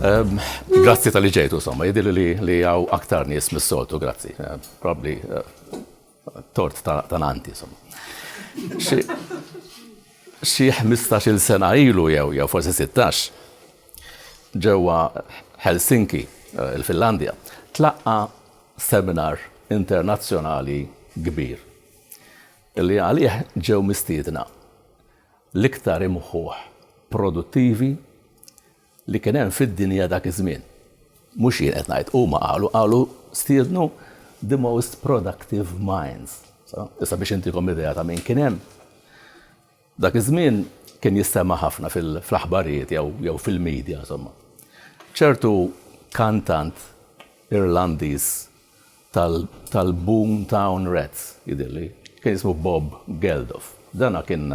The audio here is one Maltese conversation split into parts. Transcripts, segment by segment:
Ehm, grazzi tal-li ġejtu, somma, jidir li għaw aktar nis mis-soltu, grazzi. Ehm, probably eh, tort ta' nanti, somma. Xie 15 sena ilu jew, jew forse 16, ġewwa Helsinki, eh, il-Finlandja, tlaqqa seminar internazzjonali kbir li għalih ġew mistiedna l-iktar imħuħ produttivi li kien hemm fid-dinja dak iż-żmien. Mhux jien qed ngħid, huma qalu, qalu stiednu the most productive minds. Issa biex intikom idea ta' min kien hemm. Dak iż-żmien kien jistema' ħafna fl-aħbarijiet jew fil-midja, insomma, ċertu kantant Irlandiż tal-Boom Town Rats, jidhirli, kien jismu Bob Geldof. Dana kien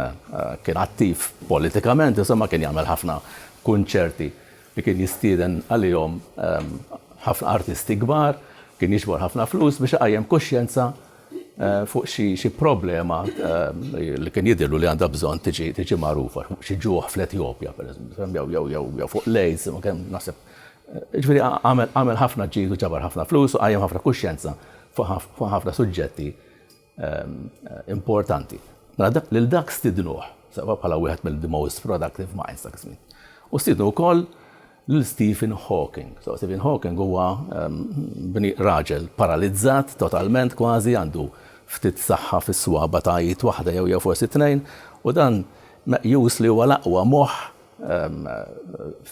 attiv politikament, insomma, kien jagħmel ħafna kunċerti li kien jistieden għalihom ħafna artisti kbar, kien jiġbor ħafna flus biex iqajjem kuxjenza fuq xi problema li kien jidhirlu li għandha bżonn tiġi magħrufa, xi ġuħ fl-Etjopja pereżempju, jew fuq l-AIDS, kemm naħseb. Ġifieri għamel ħafna ġid u ġabar ħafna flus u qajjem ħafna kuxjenza fuq ħafna suġġetti importanti. Mela lil dak stidnuh bħala wieħed mill-the most productive minds dak iż-żmien. U stiednu wkoll lil Stephen Hawking. So, Stephen Hawking huwa bni raġel paralizzat totalment kważi, għandu ftit saħħa fis-swaba' ta' id waħda jew jew forsi tnejn, u dan meqjus li huwa l-aqwa moħħ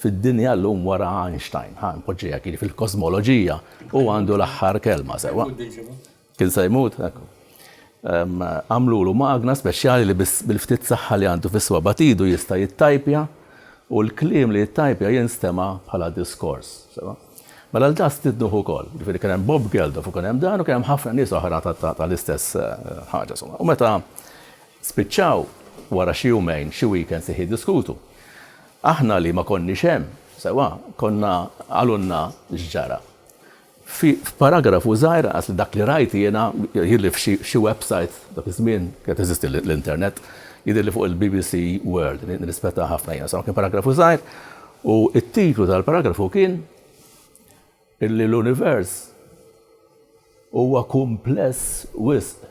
fid-dinja llum wara Einstein. Ħa npoġġiha hekk, jiġifieri fil-kożmoloġija hu għandu l-aħħar kelma, sewwa. Kien se jmut, ekku. Għamlulu magna speċjali li biss bil-ftit saħħa li għandu fis-swaba' t'idu jista' jittajpja u l-kliem li jittajpja jinstema' bħala diskors. Sewa? Mela l Das Tidnuh ukoll. Jiġifieri kien hemm Bob Geldof u kien hemm dan u kien hemm ħafna nies oħra tal-istess ħaġa. U meta spiċċaw wara xi jumejn, xi weekends iħ jiddiskutu. Aħna li ma konniex hemm, sewa, konna qalulna x'ġara. F'paragrafu żgħir inqas li dak li rajt jiena, jidhirli f'xi website, dak iż-żmien kienet teżisti l-internet, jidhirli fuq il-BBC World, nirrispettaha ħafna jiena, insomma kien paragrafu żgħir u t-titlu tal-paragrafu kien illi l-univers huwa kumpless wisq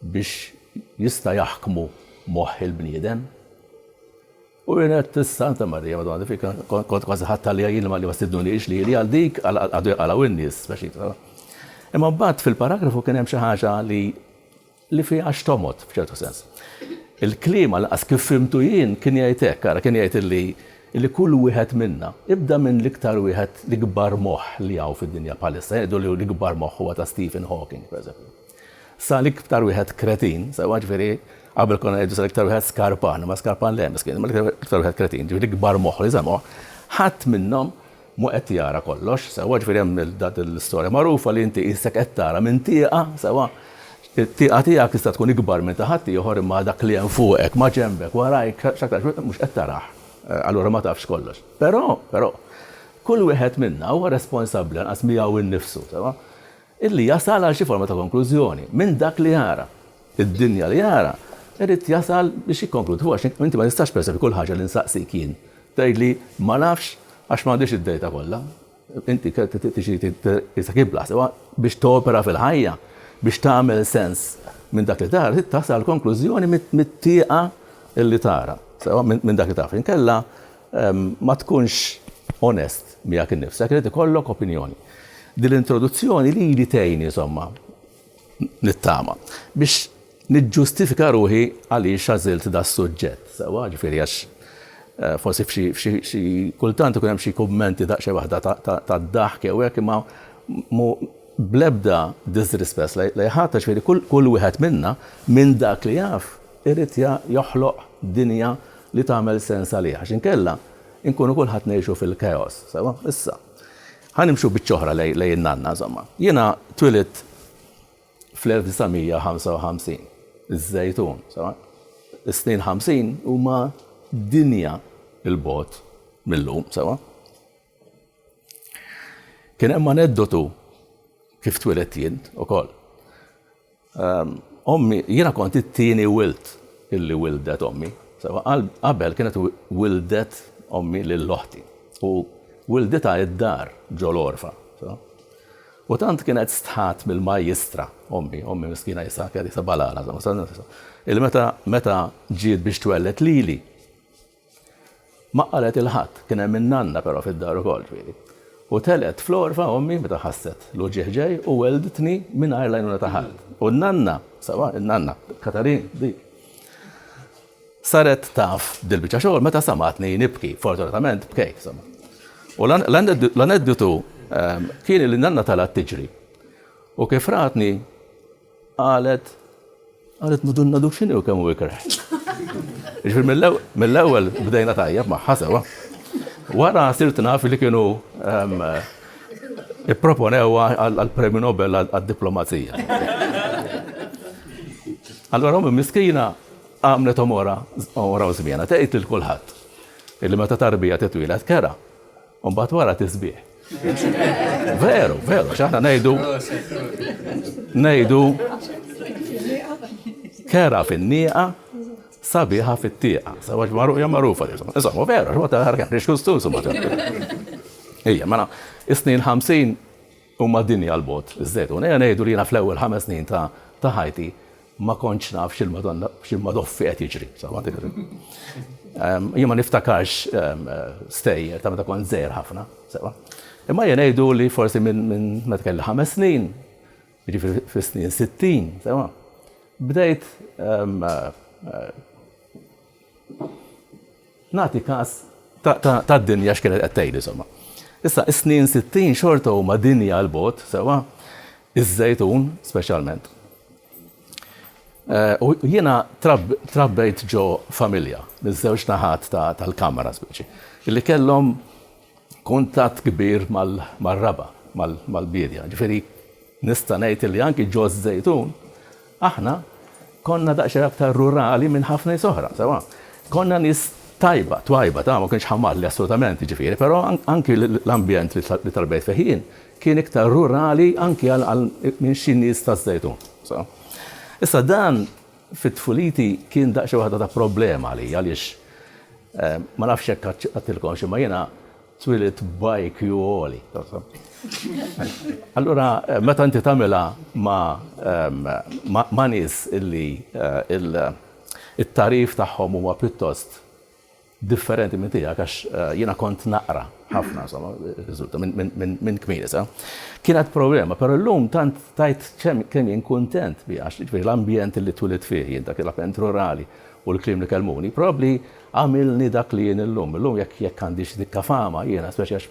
biex jista' jaħkmu moħħ il-bniedem. U kienet is-Santa Marija Madonna li fika kont kważi ħadt għaliha jien li ma stidnunix li għal dik għadu jaqalgħu in-nies speċi. Imma mbagħad fil-paragrafu kien hemm xi ħaġa li li fiha xtomot f'ċertu sens. Il-klima laqas kif fimtu jien kien jgħid hekk, ara kien jgħid li li kull wieħed minna ibda minn l-iktar wieħed l-ikbar moħħ li hawn fid-dinja bħalissa jgħidu li l-ikbar moħħ huwa ta' Stephen Hawking, pereżempju. Sa l-iktar wieħed kretin, sewwa, jiġifieri, qabel konna ngħidu sa l-iktar wieħed skarpan, imma skarpan le, miskin, imma l-iktar wieħed kretin, jiġifieri l-ikbar moħħ li semgħu, ħadd minnhom mhu qed jara kollox, sewwa, jiġifieri hemm l-istorja magħrufa li inti qisek qed tara minn tieqa, sewwa, it-tieqa tiegħek tista' tkun ikbar minn ta' ħaddieħor imma għal dak li hemm fuqek, maġenbek, warajk, x'aktarx wieħed mhux qed tarah, allura ma tafx kollox. Però, però, kull wieħed minna huwa responsabbli lanqas miegħu nnifsu, sewwa. Illi jasal għal xi forma ta' konklużjoni minn dak li jara. Id-dinja li jara, irid jasal biex jikkonkludi. Hu għax inti ma tistax pereżempju kull ħaġa li nsaqsik jien tgħidli ma nafx għax m'għandix id-dejta kollha. Inti tixtieq tqisek ibla sewwa biex topera fil-ħajja, biex tagħmel sens minn dak li tara, trid tasal għal konklużjoni mit-tieqa li tara sewwa minn dak li taf. Inkella Ma tkunx onest miegħek innifsek, irid ikollok opinjoni. Din l-introduzzjoni lili tgħinni insomma nittama biex niġġustifika ruħi għaliex għażilt da suġġett. Sewwa, ġifieri għax eh, forsi f'xi kultant ikun hemm xi kummenti daqsxejn waħda ta' daħk jew hekk imma blebda disrespect li ħadd ġifieri kull wieħed minna minn dak li jaf irid joħloq dinja li tagħmel sens għalih, għax inkella nkunu kulħadd ngħixu fil-chaos, sewwa? Issa, ħa nimxu biċċa oħra lejn in-nanna, insomma. Jiena twilidt fl-1955, iż-Żejtun, sewwa? Is-snin ħamsin huma dinja 'l bogħod mil-lum, sewwa? Kien hemm aneddotu kif twilidt jien ukoll. Ommi, jiena kont it-tieni wild illi wildhet ommi. Sewwa qabel kienet wildhet ommi lil oħti u wilditha id-dar ġo l-għorfa. U tant kienet stħat mill-majjistra ommi, ommi miskina jisha kienet jisha balala, illi meta meta ġiet biex twelled lili, Ma qalet 'il ħadd, kien hemm in-nanna però fid-dar ukoll, ġifieri. U telgħet fl-għorfa ommi meta ħasset l-uġigħ ġej u wellidtni mingħajr l-għajnuna ta' ħadd. U n-nanna, sewwa, in-nanna, Katarin, dik, saret taf dil-biċċa xogħol meta samgħatni nibki, fortunatament bkejt, insomma. U l-aneddotu kien li n-nanna telgħet tiġri u kif ratni, Qalet, qalet madunna dux xini u kemmu ikre. Ġifir mill-ewel bdejna tajjeb maħħa sewa. Wara sirt naf li kienu ehm, ipproponewa għal-Premju Nobel għad-diplomazija. Allora, ummi miskina għamlet omora, omora u zmiena, tgħid il-kulħadd. Illi meta tarbija titwila tkera. U mbagħad wara tisbieħ. Veru, veru, x'aħna ngħidu ngħidu kera fin-nieqa sabiħa fit-tieqa. Sabax marruqa magħrufa. Insomma, veru, x'ma ta' ħarkan, x'kustus ma ta' Ija, mela, is-snin 50 Huma dinja 'l bogħod biżżejjed. U nerġa' ngħidu li jiena fl-ewwel ħames snin ta' ħajti ma kontx naf x'il-madoffi qed jiġri. Jien ma niftakarx stejjer ta' meta kont żgħir ħafna, sewa. Imma jien ngħidu li forsi minn meta kelli ħames snin, jiġifieri fis-snin sittin, sewa, bdejt Nagħti każ ta' dinja x'kienet qed tgħid insomma. Issa, is-snin sittin xorta huma dinja għal bogħod, sewwa? Iż-Żejtun speċjalment. Eh, u jiena trabbejt ġo familja, miż-żewġ naħat tal-kamra speċi, li kellhom kuntatt kbir mar-raba', mal-biedja. Jiġifieri nista' ngħid illi anki ġo ż-Żejtun aħna konna daqsxejn aktar rurali minn ħafna nies oħra, sewwa konna nies tajba, twajba, ta' ma kienx ħamalli assolutament jiġifieri, però anki l-ambjent li tarbejt fih jien kien iktar rurali anki għal minn xi nies taż-Żejtun, sewwa. Issa dan Fi tfuliti kien daqsxejn waħda ta' problema għalija għaliex ma nafx jekk għedtilkomx imma jiena twilidt b'IQ għoli. Allura meta inti tagħmilha ma' nies illi t-tagħrif tagħhom huwa pjuttost differenti minn tiegħek għax jiena kont naqra ħafna insomma riżulta minn kmieni sa. Kienet problema, però llum tant tajt kemm jien kuntent bi għax jiġifieri l-ambjent li twilit fih jien dak il-apent rurali u l-kliem li kellmuni probabbli għamilni dak li jien illum. Illum jekk jekk għandix dikka fama jiena speċi għax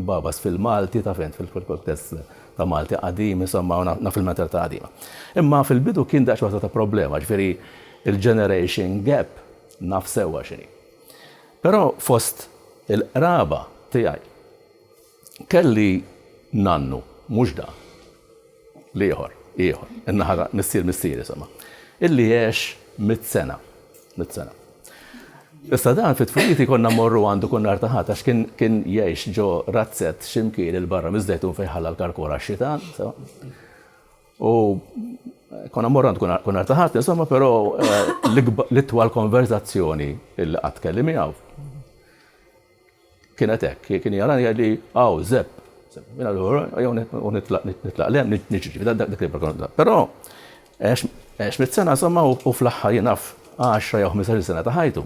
nbabas fil-Malti taf int fil-kuntest ta' Malti qadim insomma u naf il-mentalità qadima. Imma fil-bidu kien daqsxorta ta' problema, jiġifieri il-generation gap Naf sewwa x'inhi. Però fost il-qraba tiegħi kelli nannu, mhux dan, l-ieħor, ieħor, in-naħa ta' missier missieri somma, illi għex mitt sena, mitt sena. Issa dan fit-tfuliti konna mmorru għandu kull nhar ta' Ħadd għax kien jgħix ġo razzett x'imkien il-barra miż-Żejtun fejn ħalla l-karkora x-xita, U konna morran tkun artaħat, insomma, pero l-itwal konverzazzjoni il qatt kelli miegħu. Kienet hekk, kien jarani għalli, għaw, zepp, minna l-għura, għaw, nitlaq lem, nġiġi, dak li barkonna. Pero, għax mit-sena, insomma, u fl-axħar jenaf 10 jew 15 sena ta' ħajtu.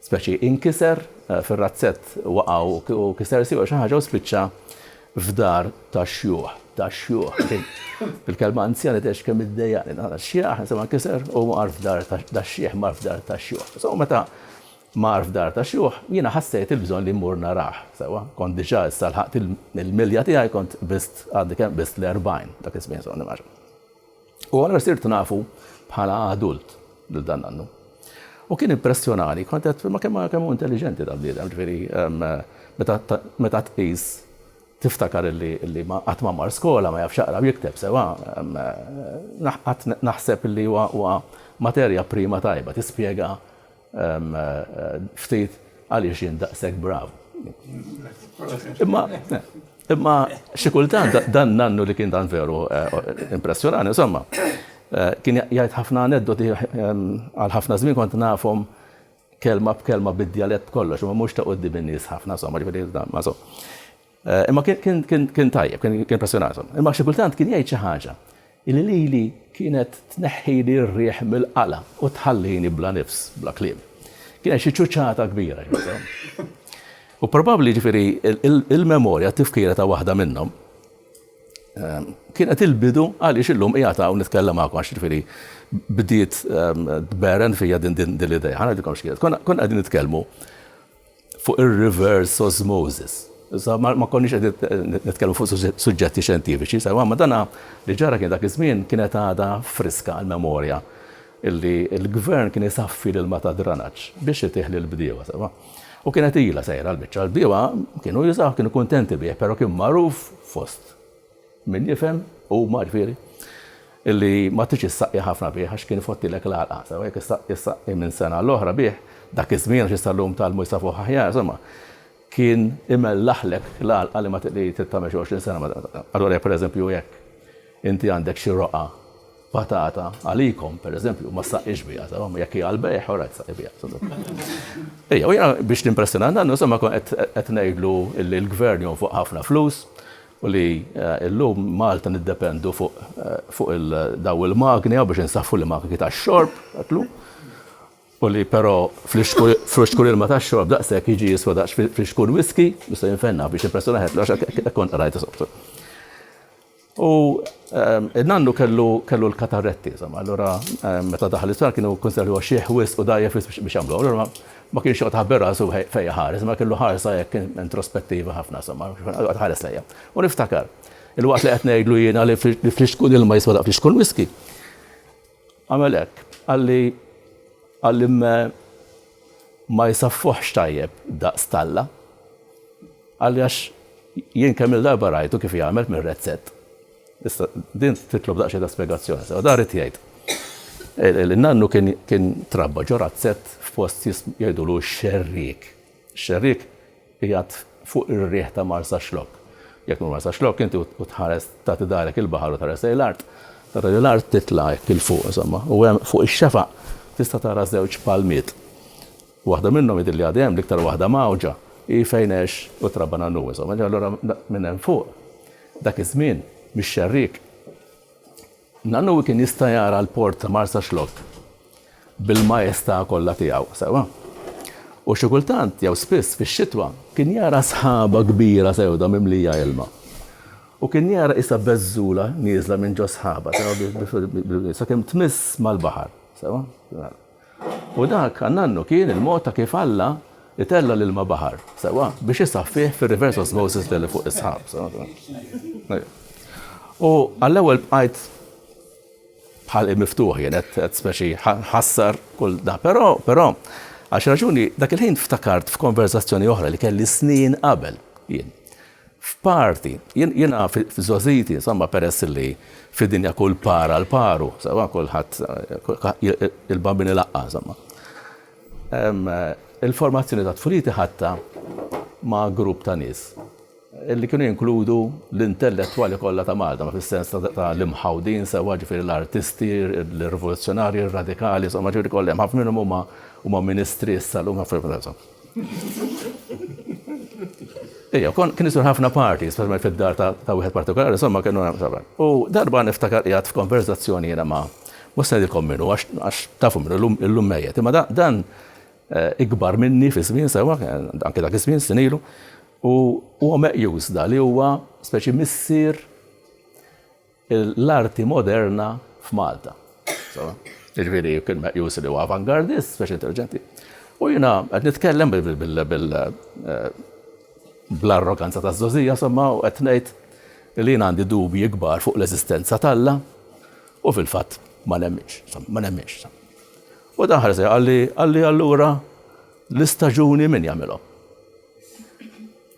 speċi inkiser fir-razzett waqa' u kiser siequ jew xi ħaġa u spiċċa f'dar tax-xjuħ, tax-xjuħ, din il-kelma anzjani tgħidx kemm iddejjaqni, dan ix-xjaħ insomma nkiser u mar f'dar tax-xjiħ, mar f'dar tax-xjuħ. So meta mar f'dar tax-xjuħ jiena ħassejt il-bżonn li mmur narah, sewwa, kont diġà issa lħaqt il-milja tiegħi kont bist għandi kemm bist l-erbgħin dak iż-żmien so nimmaġina. U allura sirt nafu bħala adult lil dan nannu. U kien impressjonani, kont qed ma kemm kemm hu intelliġenti dan bniedem, ġifieri meta tqis tiftakar li ma qatt ma mar skola, ma jafx jaqra u jikteb sewa, naħseb li huwa materja prima tajba tispjega ftit għaliex jien daqshekk brav. Imma imma xi kultant dan nannu li kien dan veru eh, impressjonani, insomma, eh, kien jgħid ħafna aneddoti ehm, għal ħafna żmien kont nafhom kelma b'kelma bid-djalett kollox, ma mhux ta' quddi bin-nies ħafna, insomma, ġifieri ma so. Imma kien tajjeb, kien impressjonathom. Imma xi kultant kien jgħid xi ħaġa li lili kienet tneħħili r-riħ mill-qalb u tħallini bla nifs, bla kliem. Kien hemm xi ċuċata kbira jgħidilhom. U probabbli, jiġifieri, il-memorja, t-tifkira ta' waħda minnhom kienet il-bidu għaliex illum qiegħed hawn nitkellem magħkom għax, jiġifieri, bdiet tberren fija din l-idea. Ħa ngħidilkom x'kienet. Konna qegħdin nitkellmu fuq ir-reverse osmosis. Issa ma ma konniex qed nitkellmu fuq suġġetti xjentifiċi, sa imma dana li ġara kien dak iż-żmien kienet għadha friska l-memorja illi l-gvern kien isaffi l-ilma tad-dranaġġ biex itih lill-bdiewa sewwa. U kienet ilha sejra l-biċċa, l-bdiewa kienu jużawh, kienu kuntenti bih, però kien magħruf fost Min jifhem huma, ġifieri, li ma tridx issaqqi ħafna bih għax kien ifottilek l-għalqa, sewa jekk issaqqi ssaqqi minn sena għal oħra bih, dak iż-żmien għax issa llum tgħallmu jsafuh aħjar, insomma, kien imellaħlek l-għalqa li ma li trid tagħmel xi għoxrin sena ma Allura jekk pereżempju jekk inti għandek xi roqgħa patata għalikom, pereżempju, ma ssaqqix biha, sewa, jekk hija għall-bejgħ, ora tsaqqi biha. Ejja, u jiena biex nimpressjona dan, insomma, qed ngħidlu li l-gvern jonfoq ħafna flus, u li llum Malta niddependu fuq dawn il-magni hawn biex insaffru l-magni tax-xorb, tatlu, u li però friskun ilma tax-xorb daqshekk jiġi jiswa daqs friskun whiskey, jista' jinfenna biex il-persuna ħedt l-għax hekk kont qrajt isoftu. U n-nannu kellu l-katarretti, insomma, allura meta daħal l-isptar kienu kunsidrawh xiħ wisq u dgħajjef wisq biex jagħmluha, allura Ma kienx joqgħod iħabbi rasu fejn iħares, imma kellu ħarsa hekk introspettiva ħafna, insomma, joqgħod iħares lejja. U niftakar, il-waqt li qed ngħidlu jiena li flixkun ilma jiswa daqs flixkun whisky, għamel hekk, qalli qalli ma jsaffuħx tajjeb daqs talla. Qalli għax jien kemm il-darba rajtu kif jagħmel mir-rezzett. Issa, din titlob daqsxejn ta' spjegazzjoni sew. Dan rrid jgħid li nannu kien trabba ġo razzett f'post jgħidulu x-Xerriek. Ix-Xerriek qiegħed fuq ir-riħ ta' Marsaxlokk. Jekk tmur Marsaxlokk inti u tħares tagħti darek il-baħar u tħares lejn l-art, tara li l-art titla' hekk 'il fuq insomma, u hemm fuq ix-xefaq tista' tara żewġ palmiet. Waħda minnhom jidhirli għadha hemm, l-iktar waħda mgħawġa hi fejn għex u trabba nannu insomma. Allura minn hemm fuq Dak iż-żmien, mix-xerriek, Nanowi kien jista' jara l-port ta' Marsaxlokk bil-majestà kollha tiegħu, sewwa. U xi kultant, jew spiss, fix-xitwa, kien jara sħaba kbira sewda mimlija ilma. U kien jara qisha beżżula nieżla minn ġo s-sħaba, sewwa, sakemm tmiss mal-baħar, sewwa. U dak, għannannu, kien il-mod ta' kif Alla itella' l-ilma baħar, sewwa, biex isaffih fir-reverse osmosis li għalli fuq is-sħab, sewwa. U għall-ewwel bqajt bħal miftuħ jien qed speċi ħassar kull da. Però, però, għax raġuni dak il-ħin ftakart f'konversazzjoni oħra li kelli snin qabel jien. F'parti. Jiena f'żgħożiti, insomma, peress illi fid-dinja kull par għal paru, sewwa, kulħadd, il-bambin ilaqqa', insomma. Il-formazzjoni tat-tfuliti ħadtha ma' grupp ta' nies illi kienu jinkludu l-intellettwali kollha ta' Malta, ma' fis-sens ta' l-imħawdin, sewwa, ġifieri l-artisti, l-rivoluzzjonarji, r-radikali, insomma, ġifieri kollha hemm. Ħafna minnhom huma ministri issa llum, insomma. Ija, kon kien isur ħafna parti, speċjalment fid-dar ta' wieħed partikolari, insomma kienu hemm sabar. U darba niftakar qiegħed f'konverzazzjoni jiena ma' mhux se ngħidilkom minnu għax tafu minnu illum mejjet, imma dan eh, ikbar minni fi żmien sewa, anke dak iż-żmien sinilu, u huwa meqjus da li huwa speċi missier l-arti moderna f'Malta. Jiġifieri kien meqjus li huwa avangardist, speċi intelliġenti. U jiena qed nitkellem bl-arroganza ta' żożija, somma, u qed ngħid li jien għandi dubji kbar fuq l-eżistenza t'Alla u fil-fatt ma nemminx, ma nemminx. U dan ħarsi qalli qalli allura l-istaġuni min jagħmilhom.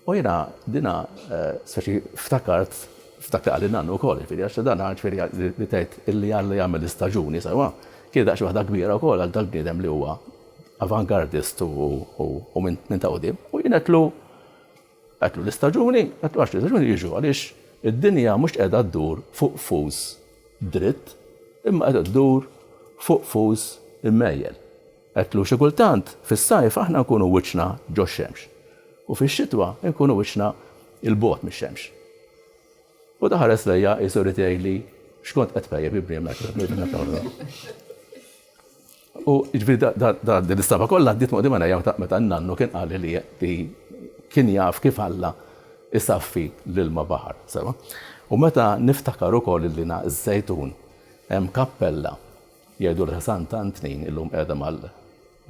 U jiena dina speċi ftakart, ftakarli nannu wkoll, jiġifieri għax dan jiġifieri li tgħid illi Alla jagħmel l-istaġuni sewwa, kienet daqsxejn waħda kbira wkoll għal dal-bniedem li huwa avangardist u minn ta' quddiem. U jien għedtlu, għedtlu l-istaġuni, għedtlu għax l-istaġuni jiġu għaliex id-dinja mhux qiegħda ddur fuq qfus dritt imma qiegħda ddur fuq qfus immejjel. Għedtlu, Xi kultant, fis-sajf aħna nkunu wiċċna ġox-xemx u fix-xitwa nkunu wiċċna 'l bogħod mix-xemx. U ta ħares lejja qisu jrid jgħidli x'kont qed tpejjep ibni hemmhekk fuq il-ħmieġ meta kont nagħmel hekk. U jiġifieri da din l-istampa kollha għaddiet ma' quddiem għajnejja meta n-nannu kien qalli li li kien jaf kif Alla jsaffi l-ilma baħar, sewwa. U meta niftakar ukoll li na ż-Żejtun hemm kappella Jgħidu li ħsan tant nin illum qiegħda mal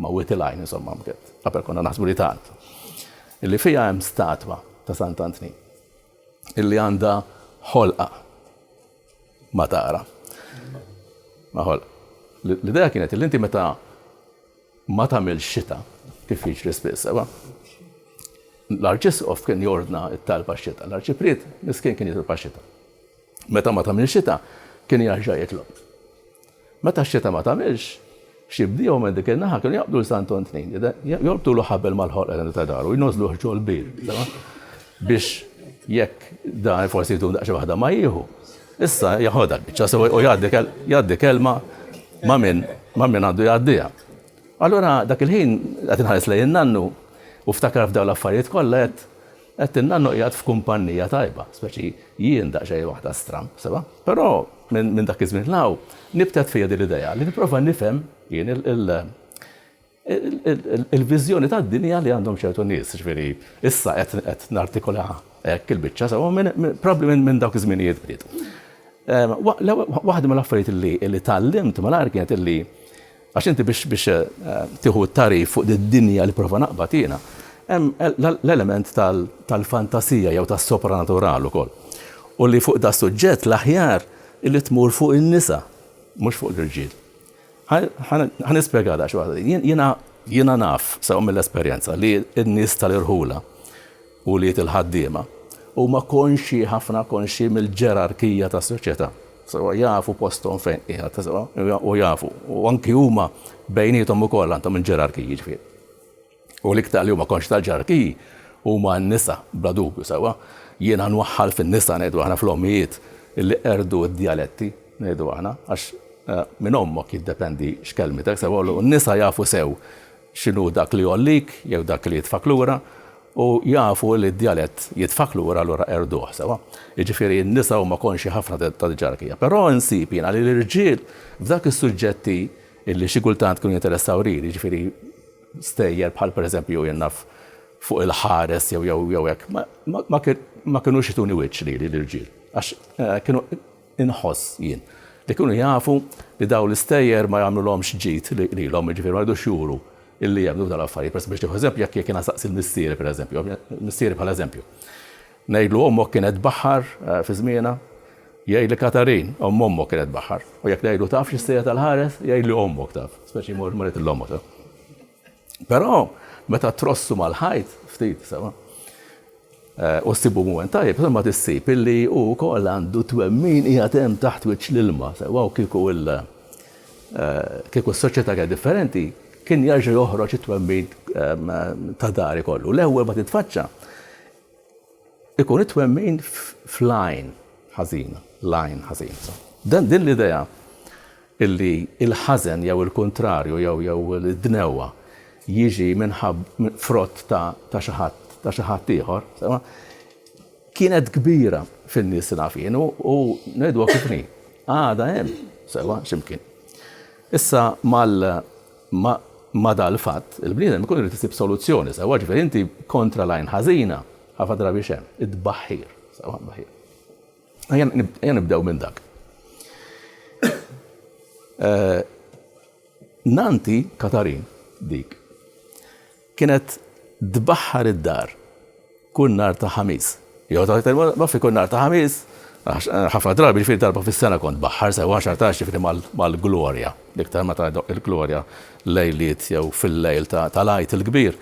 ma' wied il-għajn insomma bkiet. Qabel konna naħsbu li tant. Illi fiha hemm statwa ta' Sant Antnin. Illi għandha ħolqa ma tara. Ma ħolqa. L-idea kienet li inti meta ma tagħmel xita kif jiġri spiss, sewa. L-arċisqof kien jordna t-talba xita, l-arċipriet miskin kien jitolba xita. Meta ma tagħmilx xita, kien jerġa' jitlob. Meta x-xita ma tagħmilx, xi bdiewa minn dik in-naħa kienu jaqbdu l-Santon Tnejn, jorbtulu ħabel mal-ħolqa ta' daru, jnożżluh ġol bir, biex jekk dan forsi jdum daqsxejn waħda ma jieħu. Issa jaħodha biċċa sewa u jgħaddi kelma ma' min ma' min għandu jgħaddiha. Allura dak il-ħin qed inħares lejn nannu u ftakar f'dawn l-affarijiet kollha qed Għedtilna inhu qiegħed f'kumpannija tajba, speċi jien daqsxejn waħda stramb, sewwa. Però minn dak iż-żmien 'l hawn nibtet fija din l-idea li nipprova nifhem jien il-viżjoni tad-dinja li għandhom ċertu nies. Jiġifieri issa qed nartikula hekk il-biċċa sewwa minn probbli minn dawk iż-żminijiet bdiet. Waħda mill-affarijiet li tgħallimt malajr kienet li Għax inti biex biex tieħu t-tagħrif fuq did-dinja li pprova naqbad jiena, hemm l-element tal-fantasija jew tas-sopranatural ukoll. U li fuq das-suġġett l-aħjar li tmur fuq in-nisa, mhux fuq l-irġiel. Ħa nispjega daqsxejn waħda. Jiena naf sew mill-esperjenza li n-nies tal-irħula Ulied il-ħaddiema huma konxji ħafna konxji mill-ġerarkija tas-soċjetà. Sewwa jafu posthom fejn qiegħed, sewwa u jafu u anki huma bejniethom ukoll għandhom il-ġerarkiji jiġifieri. U l-iktar li huma konxji tal-ġerarkiji huma n-nisa bla dubju sewwa. Jiena nwaħħal fin-nisa ngħidu aħna fl-ommijiet illi qerdu d-djaletti ngħidu aħna għax minn ommok jiddependi x'kelmietek sewwa u n-nisa jafu sew x'inhu dak li jgħollik jew dak li jitfgħek lura, u jafu li d-djalett jitfgħek lura allura qerduh sewwa. Jiġifieri n-nisa huma konxji ħafna tad-ġerarkija. Però nsib jiena li l-irġiel f'dak is-suġġetti li xi kultant kienu jinteressaw lili, jiġifieri stejjer bħal pereżempju jien naf fuq il-ħares jew jew jew hekk, ma kinux jtuni wiċċ lili l-irġiel għax kienu Inħoss, jien, li kienu jafu li dawn l-istejjer ma jagħmlulhomx ġid lilhom, jiġifieri ma jridux juru li jemmnu f'dawn l-affarijiet. Pereżempju, biex nieħu eżempju, jekk jiena nsaqsi l-missieri, pereżempju, missieri bħala eżempju, ngħidlu ommok kienet tbaħħar fi żmienha? Jgħidli Katarin, omm ommok kienet tbaħħar. U jekk ngħidlu taf x'issejjer tal-ħares? Jgħidli ommok taf. Speċi jmur marit il-ommok. Però meta trossu mal-ħajt ftit, sewa, eh, u ssibu mument tajjeb, ma tissib illi hu wkoll għandu twemmin qiegħed hemm taħt wiċċ l-ilma, sewa u kieku il- eh, kieku s-soċjetà kienet differenti, kien jarġa' joħroġ it-twemmin eh, ta' dari kollu. L-ewwel ma titfaċċa Ikun it-twemmin fl-għajn ħażina, l-għajn ħażina. So, dan din l-idea illi il-ħażen jew il-kuntrarju jew jew id-dnewwa jiġi minħab frott ta' ta' xi ħadd ta' xi ħadd ieħor, sema, kienet kbira fin-nies li naf jien u, u ngħidu kifni. Għada hemm, sewa x'imkien. Issa mal Imma ma' dal-fatt, il-bniedem ikun irid isib soluzzjoni sewwa, ġifieri inti kontra l-għajn ħażina, ħafna drabi x'hemm, it-tbaħħir, sewwa t-tbaħħir. Ejja nibdew minn dak. Nannti Katarin, dik, Kienet tbaħħar id-dar kull nhar ta' Ħamis. Jew ta' iktar ma fi kull nhar ta' Ħamis, għax ħafna drabi ġifieri darba fis-sena kont tbaħħar sewwa għax artax ġifieri mal-glorja, l-iktar meta jdoqq il-glorja lejliet jew fil-lejl tal-Għid il-Kbir.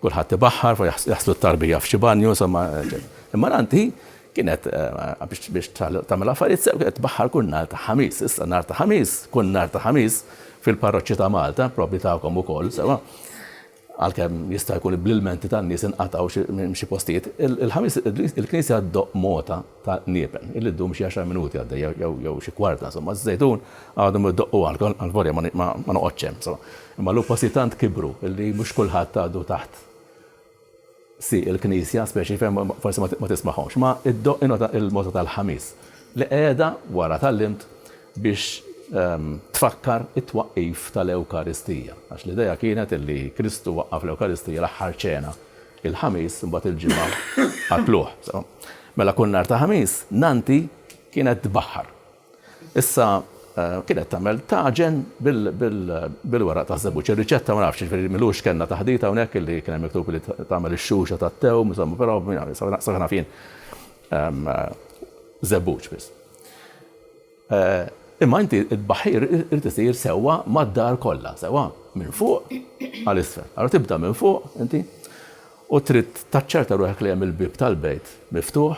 Kulħadd ibaħħar, jaħslu t-tarbija f'xi banju, insomma, eċċetera. Imma l-għan hi Kienet, biex tagħmel affarijiet sew, kienet tbaħħar kull nhar ta' Ħamis. Issa nhar ta' Ħamis, kull nhar ta' Ħamis, fil-parroċċi ta' Malta, probbli tagħkom ukoll, sewwa, għalkemm jista' jkun bl-ilmenti tan-nies inqatgħu minn xi postijiet, il-Ħamis il-Knisja ddoqq mogħta ta' niepen, illi ddum xi għaxar minuti għaddejja jew xi kwarta, insomma, ż-Żejtun għadhom idoqqu għalkom, għalvolja ma noqgħodx hemm, insomma. Imma llum postijiet tant kibru illi mhux kulħadd għadu taħt Si, il-Knisja, speċi fejn forsi ma tismagħhomx, ma iddoqq inota il-mota tal-Ħamis, li qiegħda, wara tgħallimt, biex tfakkar it-twaqqif tal-Ewkaristija. Għax l-idea kienet li Kristu waqqaf l-Ewkaristija, l-aħħar ċena, il-Ħamis, imbagħad il-Ġimgħa akluh. Mela kull nhar ta' Ħamis, Nanti kienet tbaħħar. Issa kienet tagħmel taġen bil-weraq taż-żebbuġ. Ir-riċetta ma nafx, jiġifieri m'ilux kellna taħdita hawnhekk illi kien hemm miktub li tagħmel ix-xuxa tat-tewm, insomma, però sakemm naf jien żebbuġ biss. Imma inti t-tbaħħir irid isir sewwa mad-dar kollha, sewwa minn fuq għal isfel. Allura tibda minn fuq inti u trid taċċerta ruħek li hemm il-bieb tal-bejt miftuħ,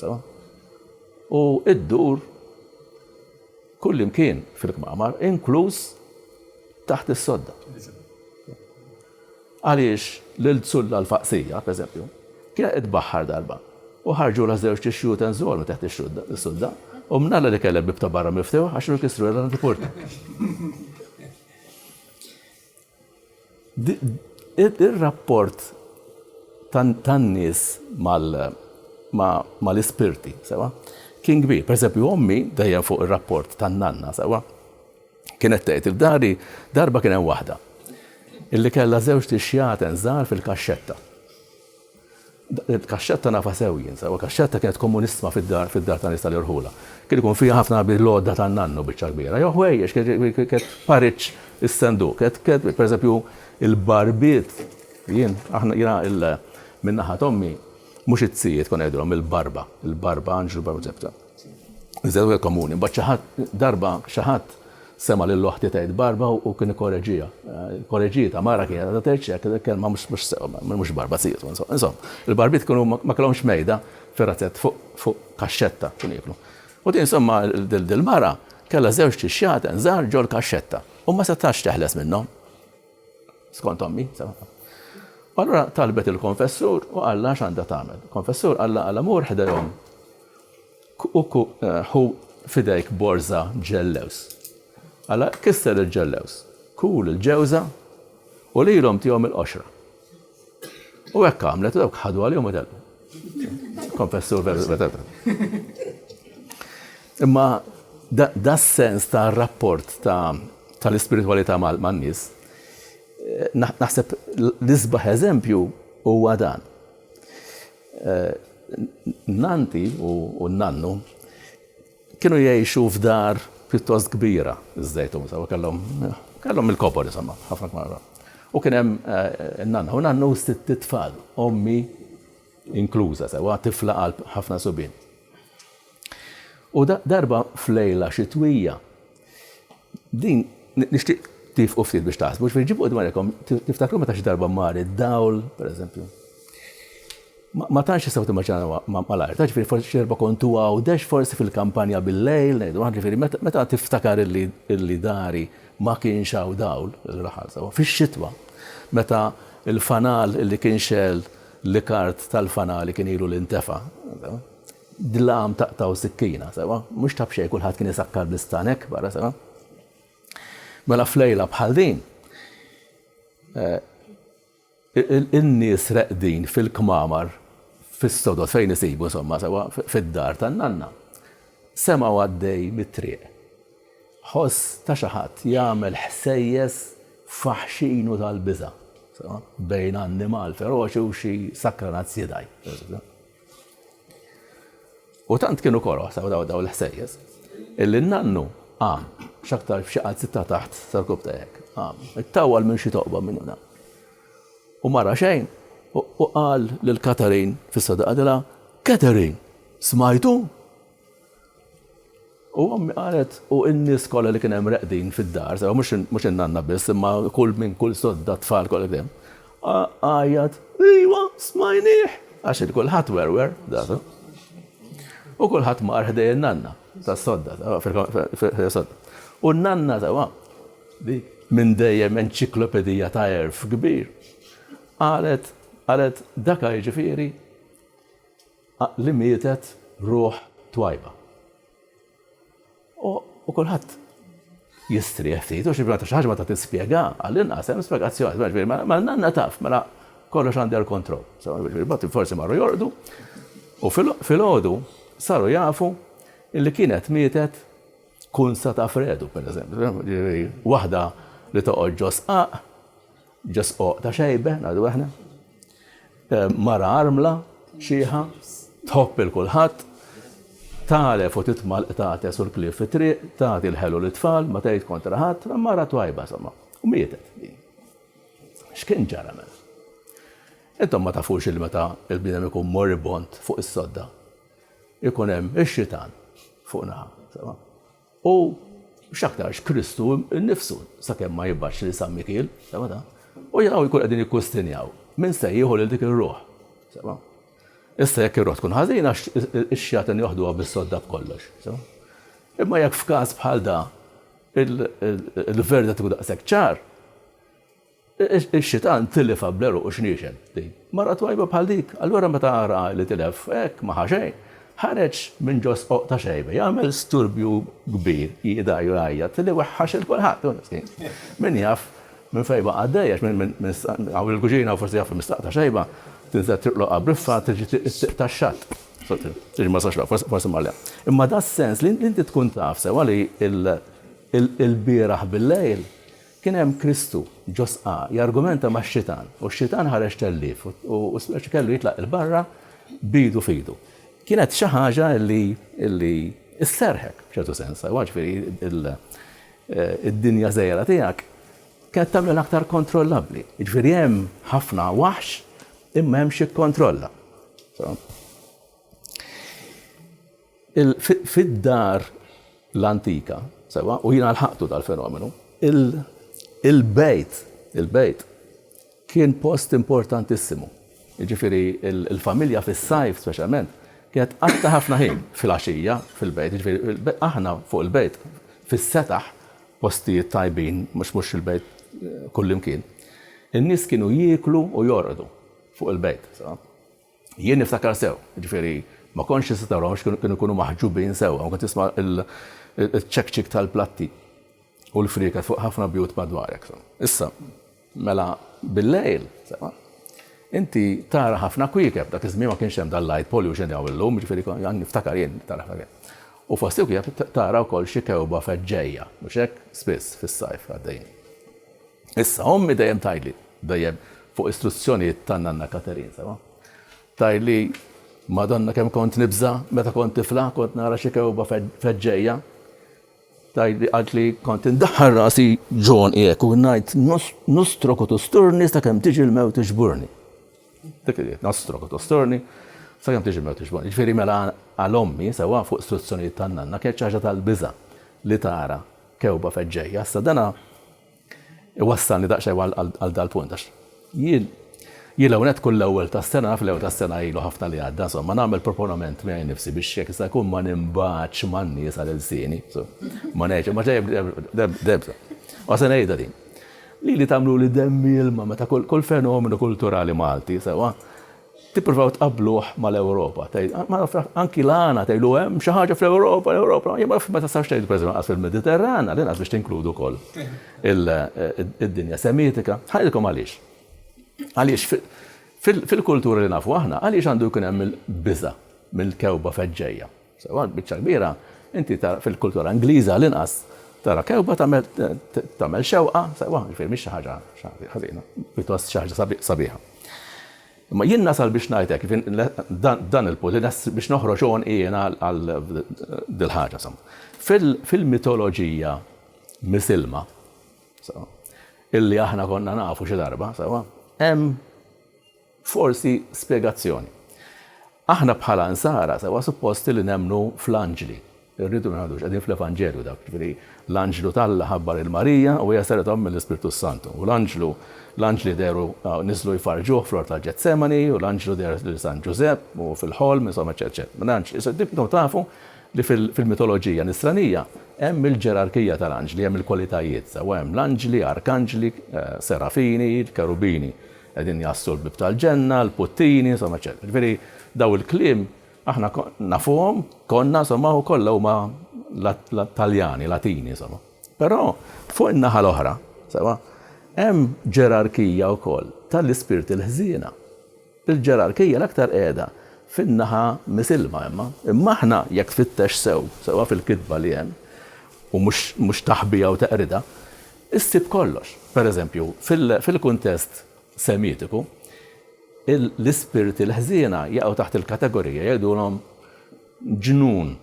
sewwa. u ddur kullimkien fil-kmamar, inkluż taħt is-sodda. Għaliex lil Zulla l-Faqsija, pereżempju, kienet qed tbaħħar darba u ħarġulha żewġ tixjut enżolu taħt is-sudda u mnalla li kellha l-bieb ta' barra miftuħ għax kienu kisrulha l-antipurta. Ir-rapport tan-nies mal-ispirti, sewwa, kien kbir. Pereżempju, ommi, dejjem fuq ir-rapport tan-nanna, sewwa, kienet tgħid, F'dari darba kien hemm waħda li kellha żewġt ixjaten żgħar fil-kaxxetta. Kaxxetta nafha sew jien, sewwa. Kaxxetta kienet kommunissma fid-dar, fid-dar ta' nies tal-irħula. Kien ikun fiha ħafna bil-għodda tan-nannu biċċa kbira. Jew ħwejjeġ, kienet pariċ is-senduq. Kienet, per eżempju, il-barbiet, jien, aħna, jiena il, minn naħa t'ommi, mhux it-tzijiet konna ngħidulhom il-barba, il-barba, Anġlu Barba Ġebta. Iżewwel komuni. Imbagħad xi ħadd darba xi ħadd sema' lil oħti tgħid barba u kien ikkoreġiha. Korreġietha, mara kienet għadha tgħid xi hekk, kelma mhux mhux sew, mhux barba sies, insomma. Il-barbiet kienu ma kellhomx mejda fir-razzett fuq fuq kaxxetta kienu jieklu. U din insomma dil-mara kellha żewġ tixjaten żgħar ġol-kaxxetta u ma setax teħles minnhom. Skont ommi, saħħa. U allura talbet il-konfessur u qalla x'għandha tagħmel. Konfessur qalla qalla mur ħdejhom. Uku eh, hu fidejk borza ġellews. Alla kisser il-ġellews, kul il-ġewza u lilhom tihom il-qoxra. U hekk għamlet, u dawk ħadu għalihom u telqu. Konfessur veru. Imma da sens ta' rapport tal-ispiritualità mal-nies, eh, naħseb l-isbaħ eżempju huwa dan. Eh, nanti u nannu Kienu jgħixu f'dar pjuttost kbira ż-Żejtun, insomma kellhom kellhom mill-kobor insomma, ħafna kmara. U kien hemm in-nanna u nannu sitt tfal, ommi inkluża sewwa, tifla qalb ħafna subien. U darba f'lejla xitwija Din nixtieq tifqu ftit biex taħsbu, ġifieri ġibu dwarkom tiftakru meta xi darba mar id-dawl, pereżempju. Ma tantx tistgħu timmaġinaw malajr, ta' ġifieri forsi xi darba kontu Għawdex, forsi fil-kampanja bil-lejl, ngħidu aħna ġifieri meta tiftakar illi dari ma kienx hawn dawl, raħal sewwa, fix-xitwa meta l-fanal li kien xegħel l-ikard tal-fanali kien ilu li ntefa'. Dlam taqtgħu sikkina, sewa? Mhux ta' b'xejn kulħadd kien isakkar bl-istan hekk barra, sewa? Mela f'lejla bħal din, in-nies reqdin fil-kmamar fis-sodod fejn isibu, insomma, sewa, fid-dar tan-nanna, semgħu għaddej mit-triq ħoss ta' xi ħadd jagħmel ħsejjes faħxin u tal-biża', sewa, bejn annimal feroċi u xi sakkranazz jidgħi. U tant kienu koroħ saw daw daw l-ħsejjes, illi n-nannu għam, xaktar f'xi zitta taħt tal-kub tajek, għam, it-tawal minn xi toqba minn una. U mara xejn, u qal lil Katarin fis-sadaqadila, Katarin, smajtu? U ommi qalet, u n-nies kollha li kien hemm reqdin fid-dar, sewa mhux mhux in-nanna biss, imma kull min, kull sodda, t-tfal kollha li kien hemm, għajjat, Ejwa, smajnieh! Għax kien kulħadd werwer, datu. U kulħadd mar ħdej in-nanna tas-sodda, fil-sodda. U n-nanna, sewa, dik minn dejjem enċiklopedija ta' għerf kbir, qalet, qalet, dak jiġifieri Li mietet ruħ twajba. U kulħadd jistrieħ ftit, u xi meta xi ħaġa meta tispjega, għall-inqas hemm spjegazzjoni, jiġifieri mela, mela nanna taf, mela kollox under control. So, jiġifieri mbagħad forsi marru jorqdu, u filgħodu saru jafu li kienet mietet kunsa ta' fredu, pereżempju, jiġifieri waħda li toqgħod ġo sqaq, Just oqta xejbe, ngħidu aħna. Mara armla, xieħa, tħobb il-kulħadd, talef u titma' l-qtates u l-klief fit-triq, tagħti l-ħelu lit-tfal, ma tgħid kontra ħadd, mara twajba somma. U mietet din. X'kien ġara mela? Intom ma tafux il meta il-bniedem ikun moribond fuq is-sodda. Ikun hemm ix-xitan fuq naħa. U x'aktarx Kristu nnifsu, sakemm ma jibgħatx lil San Mikiel, sema' ta'. U jaraw jkunu qegħdin jikkustinjaw, min se jieħu lil dik ir-ruħ, sema'. Issa jekk ir-ruħ tkun ħażina, ix-xjaten joħduha bis-sodda b'kollox, sema'. Imma jekk f'każ bħal da, il-verdet ikun daqshekk ċar, Ix-xitan tilifha bl-għeruq u xniexen. Din. Mara twajba bħal dik, allura meta ara li tilef hekk ma ħa xejn, ħareġ minn ġo s-soq ta' xejba jagħmel sturbju kbir, jidgħi u jgħajjat li weħħax 'il kulħadd. Min jaf minn fejn baqa' għaddej għax min hawn il-kuċina hawn forsi jaf li mistaq ta' xejba, tinżel triq l-oqgħa briffa tiġi t-triq tax-xatt. Tiġi ma sax l-oqgħa, forsi ma le. Imma das-sens li inti tkun taf sewwa li l-bieraħ bil-lejl Kien hemm Kristu, ġo sqa, jargumenta max-xitan, u x-xitan ħareġ tellief, u Spirtu kellu jitlaq 'il barra b'idu f'idu. Kienet xi ħaġa li li sserħek, b'ċertu sens, aħwa, ġifieri il id-dinja żgħira tiegħek kienet tagħmilha aktar kontrollabbli. Jiġifieri hemm ħafna waħx imma hemm x'jikkontrolla. Fid-dar l-antika, sewa, u jiena lħaqtu dal-fenomenu, il-bejt, il-bejt, kien post importantissimu. Ġifiri, il-familja fis-sajf, speċjalment, kienet għatta ħafna ħin fil-għaxija fil-bejt. Ġifiri, aħna fuq il-bejt, fis-setaħ, postijiet tajbin, mux mux il-bejt eh, kullimkien. In-nis kienu jieklu u jorqdu fuq il-bejt. Jien niftakar sew, jiġifieri ma kontx tista' tarahom għax kienu kienu jkunu maħġubin sewwa, kont tisma' l-ċekċik tal-platti u l-frieket fuq ħafna bjut madwarek. Issa, mela bil-lejl, sewa, inti tara ħafna kwiekeb, dak iż-żmien ma kienx hemm dal-light pollution li hawn illum, jiġifieri għandi niftakar jien tara ħafna kwiekeb. U fost il-kwiekeb tara wkoll xi kewba feġġejja, mhux hekk, spiss fis-sajf għaddejjin. Issa, ommi dejjem tgħidli, dejjem fuq istruzzjonijiet ta' Nanna Katerin, sewa, tgħidli, Madonna kemm kont nibża' meta kont tifla, kont nara xi kewba feġġejja. Tgħidli qaltli kont indaħħal rasi ġonqi hekk u ngħid nostrok u tusturni sakemm tiġi l-mewt iġburni. Dik li nostrok u tusturni sakemm tiġi l-mewt iġburni. Ġifieri mela għal ommi sewa fuq istruzzjonijiet ta' Nanna kienet xi ħaġa tal-biża' li tara Tewba feġġejja. Issa dan iwassalni daqsxejn għal dal-punt għax jien jien l-ewwel nett kull l-ewwel tas-sena, naf l-ewwel tas-sena ilu ħafna li għadda, insomma, nagħmel proponament miegħi nnifsi biex jekk jista' jkun ma ninbagħadx man-nies għal ilsieni, ma ngħidx, imma ġej debda. U se ngħidha din. Lili tagħmluli demm ilma meta kull fenomenu kulturali Malti, sewwa, Tippruvaw tqabbluh mal-Ewropa, tgħid, ma nafx, anki l-għana tgħidu hemm xi ħaġa fl-Ewropa, l-Ewropa, jien ma nafx ma tistax tgħidu pereżempju lanqas fil-Mediterran, għal inqas biex tinkludu wkoll id-dinja Semitika. Ħanidilkom għaliex. Għaliex fil-kultura li nafu aħna, għaliex għandu jkun hemm il-biża' mill-kewba feġġejja? Sewwa l-biċċa l-kbira, inti tara fil-kultura Ingliża għall-inqas, tara kewkba tagħmel tagħmel xewqa, sewwa, jiġifieri mhix xi ħaġa ħażina, pjuttost xi ħaġa sabiħa. Imma jien nasal biex ngħid hekk, dan il-punt, biex noħroġ għonqi jiena għal dil-ħaġa insomma. Fil-mitoloġija misilma, illi aħna konna nafu xi darba, sewwa, hemm Forsi spjegazzjoni. Aħna bħala Nsara sewwa supposti li nemmnu fl-anġli. Irridu ngħidu x'qegħdin fl-Evanġelju dak, jiġifieri l-anġlu t'Alla ħabbar lil Marija u hija saret omm mill-Ispirtu s-Santu. U l-anġlu, l-anġli dehru, niżlu jfarrġuh fl-ort ta' Ġetsemani u l-anġlu deher lil San Ġużepp u fil-ħolm, insomma eċċetera eċċetera. Minn anġli. Issa intom tafu li fil-mitoloġija Nisranija hemm il-ġerarkija tal-anġli, hemm il-kwalitajiet sewwa hemm l-anġli, arkanġli, serafini, kerubini. Qegħdin jgħassu l-bieb tal-ġenna, l-puttini, insomma eċċetera. Jiġifieri dawn il-kliem aħna nafuhom, konna insomma u kollha huma Taljani, Latini insomma. Però fuq in-naħa l-oħra, sewa, hemm ġerarkija wkoll tal-ispirti l-ħżiena. Il-ġerarkija l-aktar qiegħda fin-naħa misilma imma. Imma aħna jekk tfittex sew, sewa fil-kitba li hemm, u mhux taħbija u teqridha, Issib kollox. Per eżempju, fil-kuntest Semitiku, l-ispirti l-ħżiena jaqgħu taħt il-kategorija, jgħidulhom ġnun,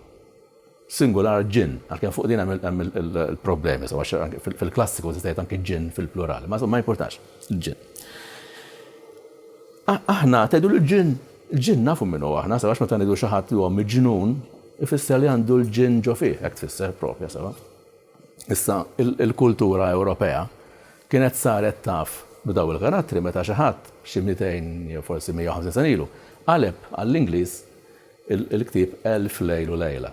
singular ġinn, għalkemm fuq din hemm il-problemi, sew għax fil-klassiku tista' tgħid anki ġinn fil-plural, ma ma jimpurtax, ġinn. Aħna tgħidu l-ġinn, il-ġinn nafu min hu aħna, sew għax meta ngħidu xi ħadd li huwa miġnun, ifisser li għandu l-ġinn ġo fih, hekk tfisser proprja, sew. Issa, il-kultura Ewropea kienet saret taf b'dawn il-karattri meta xi ħadd, xi mitejn jew forsi 150 sena ilu, qaleb għall-Ingliż il-ktieb Elf Lejl u Lejla.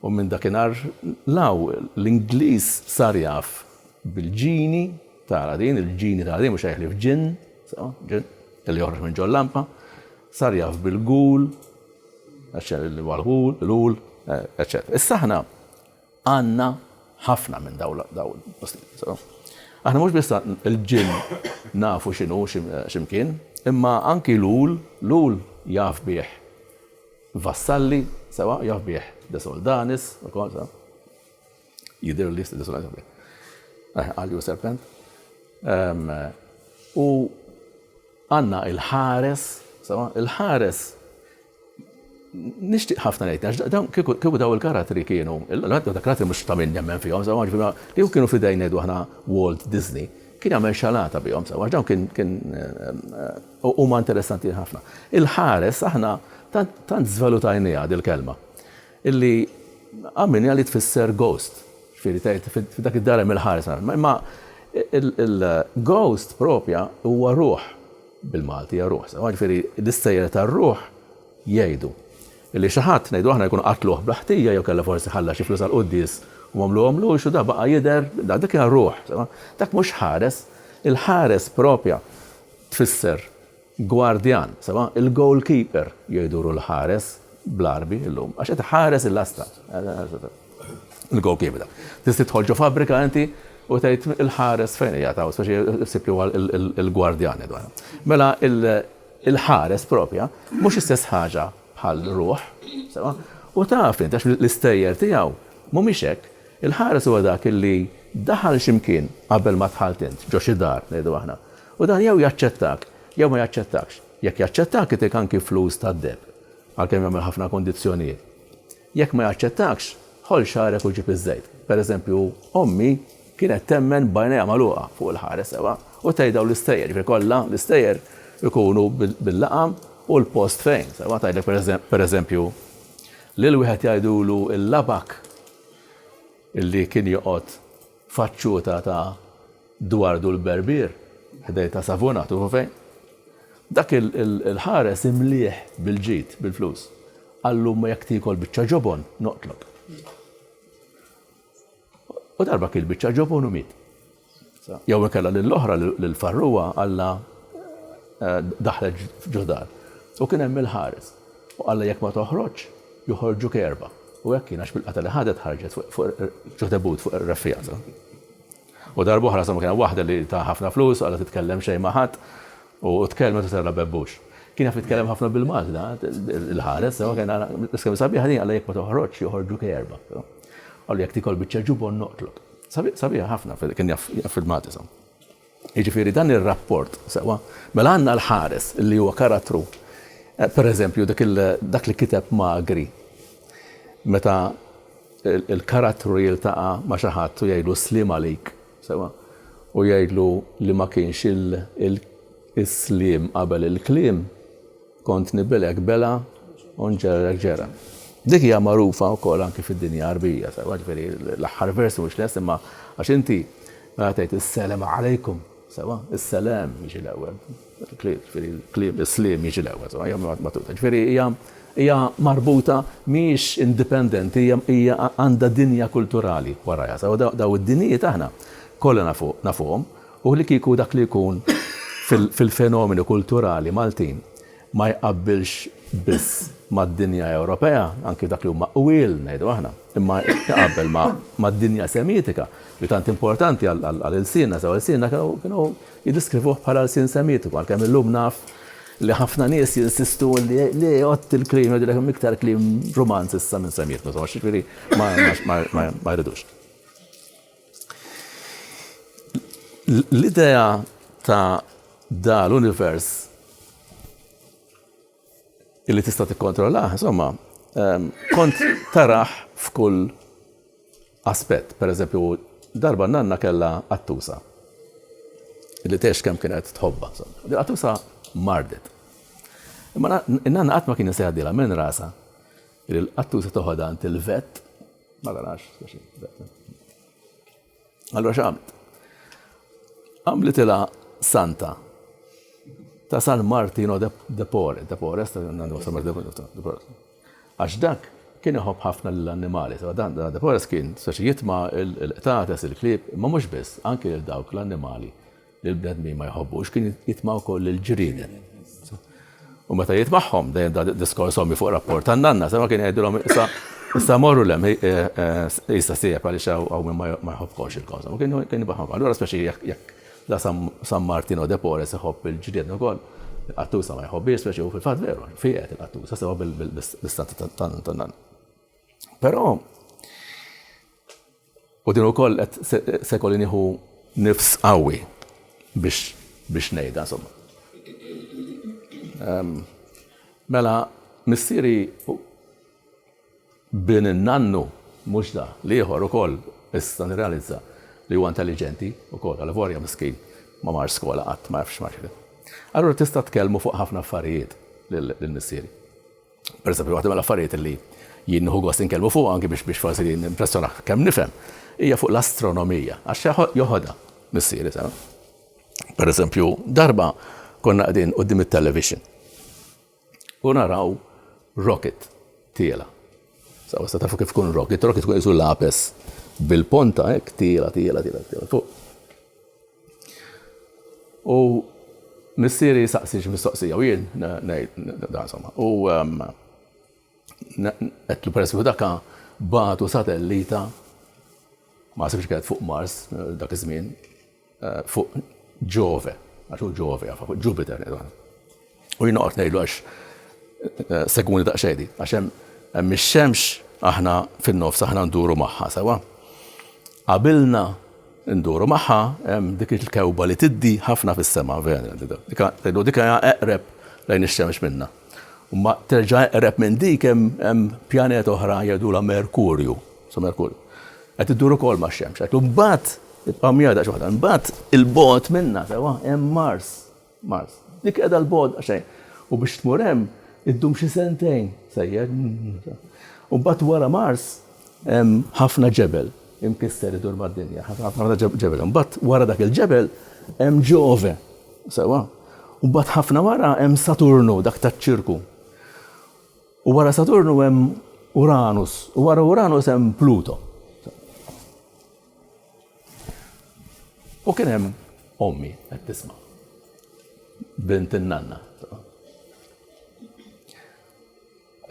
U minn dakinhar 'l hawn, l-Ingliż sar jaf bil-ġini tal-Aladin, il-ġini tal-Aladin, mhux ħlief ġinn, sew, ġinn, li joħroġ minn ġol-lampa, sar jaf bil-ghoul, għax hemm il-ghoul, l-ghoul, eċċetera. Issa aħna, Għandna ħafna minn dawn l-postijiet. Aħna mhux biss il-ġinn nafu x'inhu xi mkien, imma anki l-għul, l-għul jaf bih Vassalli, sewa, jaf bih De Soldanis, ukoll, sewa. Jidhirli li De Soldanis jaf bih. Eh, Għalju serpent. Ehm, u għandna il-ħares, sewa, il-ħares nixtieq ħafna ngħid għax dawn kieku daw il-karattri kienu, dak karattri mhux ta' min nemmen fihom, sewa ġifieri kieku kienu f'idejn ngħidu aħna Walt Disney, kien jagħmel xalata bihom sewa għax dawn kien kien eh, huma interessanti ħafna. Il-ħares aħna tant żvalutajniha dil-kelma illi għamilni li tfisser ghost, ġifieri tgħid f'dak id-dar hemm il-ħares. Imma il-ghost propja huwa ruħ bil-Malti hija ruħ sewwa, jiġifieri l-istejjer tar-ruħ jgħidu li xi ħadd, ngħidu aħna, jkun qatluh bla ħtija jew kellha forsi ħalla xi flus għall-quddies u m'għamluhomlux u dak baqa' jidher, dik hija ruħ sewwa. Dak mhux ħares. Il-ħares proprja tfisser gwardjan sewwa, il-goalkeeper jgħidulu l-ħares bl-Għarbi llum għax qed iħares il-lasta. Il-goalkeeper. Tista' tidħol ġo fabbrika inti u tgħid il-ħares fejn hija ta' hawn, speċi ħsib li huwa l-gwardjan jgħidu aħna. Mela il-ħares propja mhux l-istess ħaġa bħal ruħ, sewwa? U taf int għax l-istejjer tiegħu mhumiex hekk. Il-ħares huwa dak illi daħal xi mkien qabel ma dħalt int, ġo xi dar ngħidu aħna. U dan jew jaċċettak jew ma jaċċettakx. Jekk jaċċettak itik anki flus tad-deb, għalkemm jagħmel ħafna kundizzjonijiet. Jekk ma jaċċettakx, ħoll xagħrek u ġib iż-żejt. Per eżempju, ommi kienet temmen b'għajnejha magħluqa fuq il-ħares sewwa u tgħid dawn l-istejjer, jiġifieri kollha l-istejjer ikunu bil-laqam u l-post fejn, sewwa tgħidlek per eżempju, lil wieħed jgħidulu l-labak li kien joqgħod faċċuta ta' Duardu l-Berbier, ħdejn ta' Savona, tufu fejn? Dak il-ħares imlieh bil-ġid, bil-flus, qal l-ommu jekk tiekol biċċa ġobon, noqtlok. U darba kiel biċċa ġobon u miet. Jew inkella lill-oħra, lill-farruha, qalla eh, daħlet f'ġodar. U kien hemm il-ħares. U qalla jekk ma toħroġ, joħorġu kerba. U hekk kien għax bil-qata li ħadet ħarġet fuq ġodebut fuq ir-reffijaza. U darb'oħra insomma kien hemm waħda li ta ħafna flus u qagħda titkellem xejn ma' ħadd u tkellmet u serra bebbux. Kien jaf jitkellem ħafna bil-Malti da l-ħares u kien l-iskema sabiħa din qalla jekk ma toħroġx joħorġu kejrbha. Qallu jekk tikol biċċa ġubon noqtlok. Sabiħa ħafna kien jaf fil-Malti insomma. Jiġifieri dan ir-rapport sewwa mela għandna l-ħares li huwa karattru pereżempju dak li kiteb Magri meta il-karattru jiltaqa' ma' xi ħadd u jgħidlu sliem għalik, sewwa, u jgħidlu li ma kienx il-sliem qabel il-kliem, kont nibelgħek belgħa u nġerrek ġergħa. Dik hija magħrufa wkoll anki fid-dinja Għarbija, sewwa, ġifieri l-aħħar vers mhux lest imma għax inti meta tgħid is-selem għalejkum, sewwa, is-selem jiġi l-ewwel. Il-klieb, ġifieri l-klieb is-sliem jiġi l-ewwel, insomma, hija marbuta. Ġifieri hija hija marbuta, mhijiex indipendenti, hija hija għandha dinja kulturali warajha. Sew da dawn id-dinjijiet aħna kollha nafu nafuhom u li kieku dak li jkun fil fil-fenomeni kulturali Maltin ma jqabbilx biss mad-dinja Ewropea, anki f'dak li huma qwiel, ngħidu aħna, imma jqabbel ma mad-dinja Semitika li tant importanti għal għal għal ilsienna, sew ilsienna kienu kienu Jiddeskrivuh bħala lsien semitiku, għalkemm illum naf li ħafna nies jinsistu li li jgħodd il-kliem jgħidulek hemm iktar kliem Rumanz issa minn Semitiku, insomma, jiġifieri ma jridux. L-idea ta' da l-univers illi tista' tikkontrollah, insomma, ehm, kont taraħ f'kull aspett. Per eżempju, darba nanna kella attusa. Illi tex kemm kienet tħobba. Attusa mardet. Imma nanna qatt ma kien jisejħadila minn rasa. Illi l-attusa toħodha għand il-vet. Ma tarax, Allora x'għamlet? Għamlitilha santa ta' San Martino de Pore, de Pore, għax dak kien iħobb ħafna l-annimali, so dan de Pore kien saxi jitma' il-qtates, il-klieb, ma mhux biss, anke l-dawk l-annimali li l-bnedmin ma jħobbux, kien jitma' wkoll il-ġrienet. U meta jitmagħhom dejjem da diskors ommi fuq rapport ta' nanna, sema kien jgħidilhom issa issa morru lem eh, eh, issa sieb għaliex hawn minn ma jħobbkomx il-kawża. Ma kien kien jibgħahom. Allura speċi jekk jekk la San Martino de Pores iħobb il-ġrienet ukoll, qattusa ma jħobbiex speċi u fil-fatt veru, fijet il-qattusa sewa bil-istat ta' nanna. Però U din ukoll qed se jkolli nieħu nifs qawwi biex biex ngħidha insomma. Mela missieri bin in-nannu mhux da, l-ieħor ukoll issa nirrealizza li huwa intelliġenti ukoll għal vorja miskin ma mar skola qatt ma jafx mar x'inhi. Allura tista' tkellmu fuq ħafna affarijiet lil missieri. Pereżempju, waħda mill-affarijiet li jien nieħu gost inkellmu fuqha anki biex biex forsi nimpressjonah kemm nifhem, hija fuq l-astronomija, għax joħodha missieri sew. Pereżempju, darba konna qegħdin quddiem it-television u naraw rocket tiela. Sa wasa tafu kif kun rocket, rocket kun isu lapes bil-ponta hekk tiela tiela tiela tiela fuq. U missieri jsaqsi xi mistoqsija u jien ngħid da insomma. U qedtlu peress li daka bagħtu satellita ma sibx kienet fuq Mars dak iż-żmien fuq Ġove, għax hu Ġove, fuq Ġupiter. U jien noqgħod ngħidlu għax eh, segwuni daqsxejn di, għax hemm ix-xemx aħna fin-nofs aħna nduru magħha sewa. Qabilna nduru magħha hemm dik il-kewba li tiddi ħafna fis-sema vera. Tgħidu dik hija eqreb lejn ix-xemx minna. Ma terġa' eqreb minn dik hemm pjanet oħra jgħidula Merkurju, so Merkurju. Qed idduru kol ma' xemx, qed mbagħad ibqa' mjada xi waħda, mbagħad il-bot minna sewa hemm Mars. Mars. Dik qiegħda 'l bogħod daqsxejn. U biex tmur hemm iddum xi sentejn sejjer. U mbagħad wara Mars hemm ħafna ġebel imkisser idur mad-dinja. Ħafna ġebel. Mbagħad wara dak il-ġebel hemm Ġove. Sewwa. U mbagħad ħafna wara hemm Saturnu dak taċ-ċirku. U wara Saturnu hemm Uranus. U wara Uranus hemm Pluto. U kien hemm ommi qed tisma' bint in-nanna.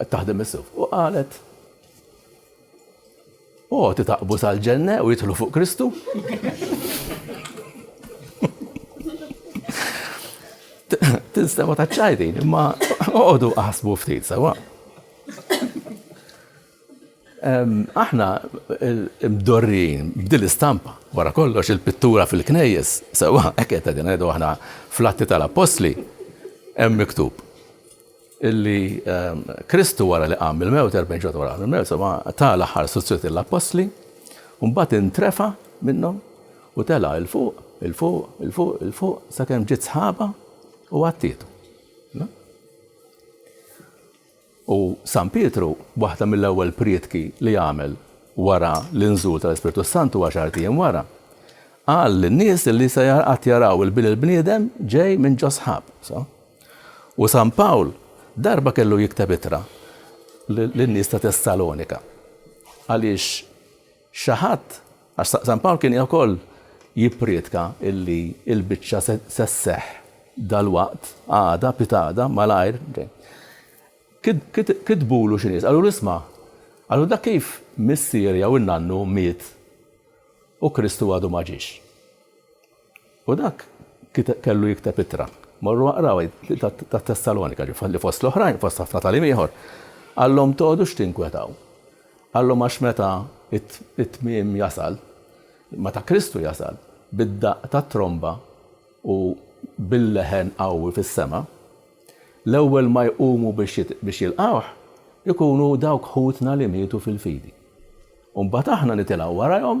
Qed taħdem is-suf u qalet U għoti taqbu sal-ġenne u jitħlu fuq Kristu. Tinstema ta' ċajdin, imma għodu għasbu ftit, sawa. Aħna mdorrijin b'din l-istampa. Wara kollox, il-pittura fil-knejjes, sewwa hekk qed qegħdin ngħidu aħna fl-Atti tal-Appostli, hemm miktub illi Kristu wara li qam mill-mewt, erbgħin ġimgħa wara qam mill-mewt, sewwa ta l-aħħar istruzzjonijiet lill-Appostli, u mbagħad intrefa' minnhom u tela' 'l fuq, 'il fuq, 'il fuq, 'il fuq, sakemm ġiet sħaba u għattietu. U San Pietru, waħda mill-ewwel prietki li għamel wara l-inżul tal-Ispirtu s-Santu għaxart ijiem wara, qal lin-nies li se qatt jaraw il-Bin il-Bniedem ġej minn ġo s-sħab. U San Pawl darba kellu jikteb ittra lin-nies ta' Tessalonika għaliex Xi ħadd, għax San Pawl kien ukoll jipprietka illi l-biċċa se sseħħ dalwaqt, għada, pitgħada, malajr, kitbulu xi nies, qalulu isma', qalulu dak kif missier jew in-nannu miet u Kristu għadu ma ġiex. U dak kellu jikteb ittra. Morru aqrawha, hi tat-Tessalonika, li fost l-oħrajn, fost ħafna tagħlim ieħor, qallhom tgħodux tinkwetaw. Qallhom għax meta t-tmiem jasal, meta Kristu jasal, bid-daqq tat-tromba u bil-leħen qawwi fis-sema, l-ewwel ma jqumu biex jilqgħuh ikunu dawk ħutna li mietu fil-fidi. U mbagħad aħna nitilgħu warajhom,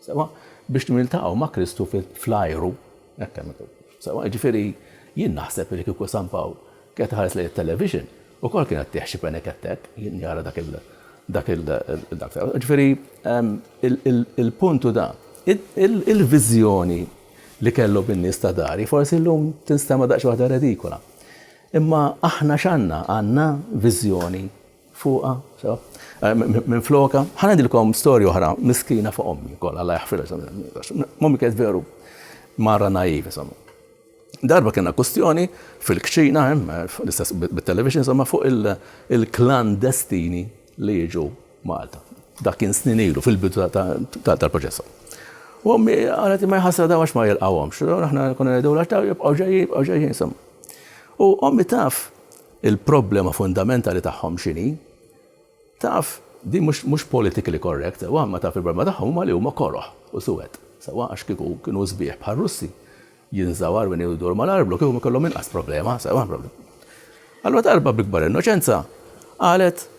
sewwa, biex niltaqgħu ma' Kristu fl-ajru. Hekk hemm miktub. Sewwa, jiġifieri jien naħseb li kieku San Pawl kienet iħares lejn it-television, ukoll kien qed tieħ xi penek hekk hekk, jien jara dak il dak il dak sewwa. Jiġifieri il-punt hu dan. Il-viżjoni li kellu bin-nies ta' dari forsi llum tinstema' daqsxejn waħda redikola. Imma aħna x'għandna? Għandna viżjoni fuqha, sew, minflokha. Ħa ngħidilkom storja oħra miskina fuq ommi wkoll, Alla jaħfirha, insomma, ommi kienet veru mara naiv, insomma. Darba kena kustjoni fil-kċina, hemm, l-istess bit-television, insomma, fuq il-klandestini li jiġu Malta. Dak kien snin ilu fil-bidu tal-proċess. U ommi għalet ma jħassra daw għax ma jilqawhomx. Aħna konna ngħidu għax daw jibqgħu ġejjin, jibqgħu ġejjin, insomma. U ommi taf Il-problema fundamentali tagħhom x'inhi? Taf, din mhux mhux politically correct sewwa, imma taf il-problema tagħhom huma li huma koroh u suwed, sewwa, għax kieku kienu sbieħ bħar-Russi, jinżawar minn u jduru mal-arblu, kieku kellhom inqas problema, sewwa, Allura darba bl-ikbar innoċenza qalet,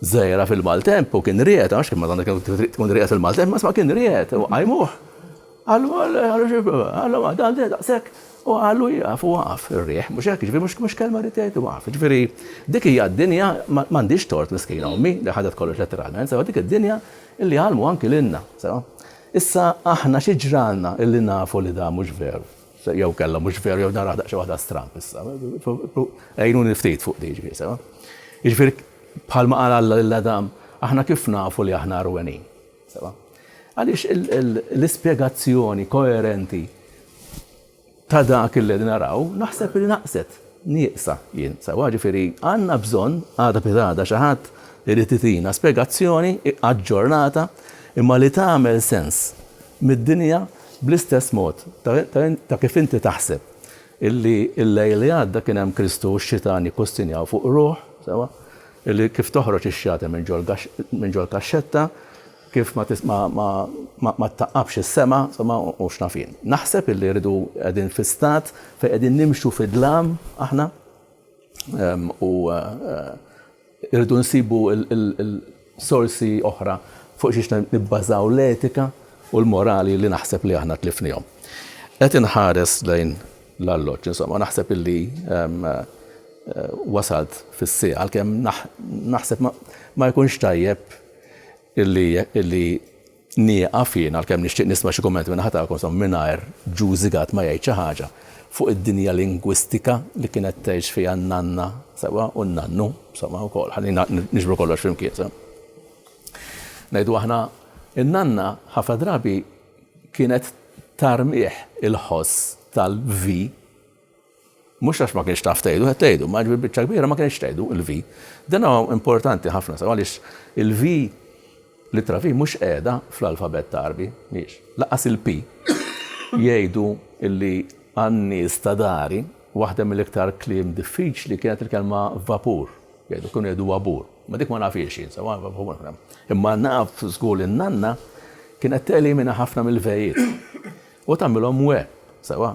Żgħira fil-maltemp u kien riegħed, għax kien Madonna kienet trid tkun riegħed fil-maltemp, imma sma' kien riegħed u qajmuh. Qallu, qallu xi, qallu ma dan daqshekk u qallu jieqaf u waqaf ir-riħ, mhux hekk, jiġifieri mhux mhux kelma rrid jgħid waqaf. Jiġifieri dik hija d-dinja, ma m'għandhiex tort miskina ommi li ħadet kollox letteralment, sewa dik id-dinja illi għallmu anki lilna, sewa. Issa aħna xi ġralna illi nafu li dan mhux veru? Jew kellha mhux veru jew naraha daqsxejn waħda stramb issa. Għinuni ftit fuq din ġifieri sewa. Jiġifieri bħalma qal Alla lil Adam, aħna kif nafu li aħna rwenin? Sewa. Għaliex l-ispjegazzjoni koerenti ta' dak li naraw naħseb li naqset nieqsa jien. Sewa ġifieri għandna bżonn għada pitada xi ħadd irid itina spjegazzjoni aġġornata imma li tagħmel sens mid-dinja bl-istess mod ta' kif inti taħseb illi l-lejl li għadda kien hemm Kristu u x-xitan jikkustinjaw fuq ruħ, sewwa, illi kif toħroġ ix-xjata minn ġol minn ġol kaxxetta, kif ma tis ma ma ma ma ttaqqabx is-sema, sewwa, u x'naf jien. Naħseb illi rridu qegħdin fi stat fejn qegħdin nimxu fid-dlam aħna u Irridu nsibu sorsi oħra fuq xiex nibbażaw l-etika u l-morali li naħseb li aħna tlifnihom. Qed inħares lejn l-arloġġ, insomma, naħseb illi wasalt fis-sieqa, għalkemm naħseb ma jkunx tajjeb illi Nieqaf jien, għalkemm nixtieq nisma' xi kummenti min-naħa tagħkom, insomma, mingħajr Ġu Zigat ma jgħid xi ħaġa fuq id-dinja lingwistika li kienet tgħix fiha n-nanna, sewwa, u n-nannu, insomma, ukoll. Ħallina niġbru kollox flimkien, sew. Ngħidu aħna, in-nanna ħafna drabi kienet tarmih il-ħoss tal-vi, Mhux għax ma kinitx taf tgħidu, qed tgħidu, imma jiġifieri biċċa kbira ma kinitx tgħidu l-V. Dan huwa importanti ħafna sew għaliex il-V, l-ittra V mhux qiegħda fl-alfabett Għarbi, mhijiex. Lanqas il-P. Jgħidu li għan-nies ta' dari waħda mill-iktar kliem diffiċli kienet il-kelma vapur. Jgħidu, kienu jgħidu wabur. Ma dik ma nafhiex jien sewwa, imma naf żgur li n-nanna kienet telimina ħafna mill-vejiet u tagħmilhom we, sewwa.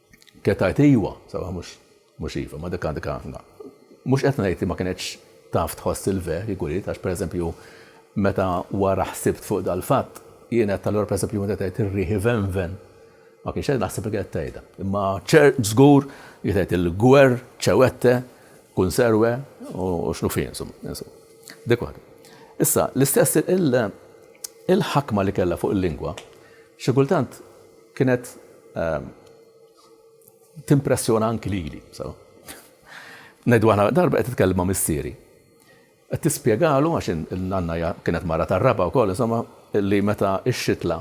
Kienet tgħid iva, sawa mhux mhux iva, ma dik għandek ħafna. Mhux qed ngħid li ma kinetx taf tħoss il-ve, jekk uriet, għax pereżempju meta wara ħsibt fuq dal-fatt, jien qed tal-għor pereżempju meta tgħid ir-riħi venven. Ma kienx qed naħseb li qed tgħidha. Imma ċer żgur li tgħid il-gwer, ċewette, kunserwe u x'nu fi insomma. Dik waħda. Issa, l-istess il-ħakma li kellha fuq il-lingwa, xi kultant Kienet timpressjona anki lili. Ngħidu aħna darba qed titkellem ma' missieri. Qed tispjegalu għax il-nanna kienet mara tar-raba' wkoll insomma li meta x-xitla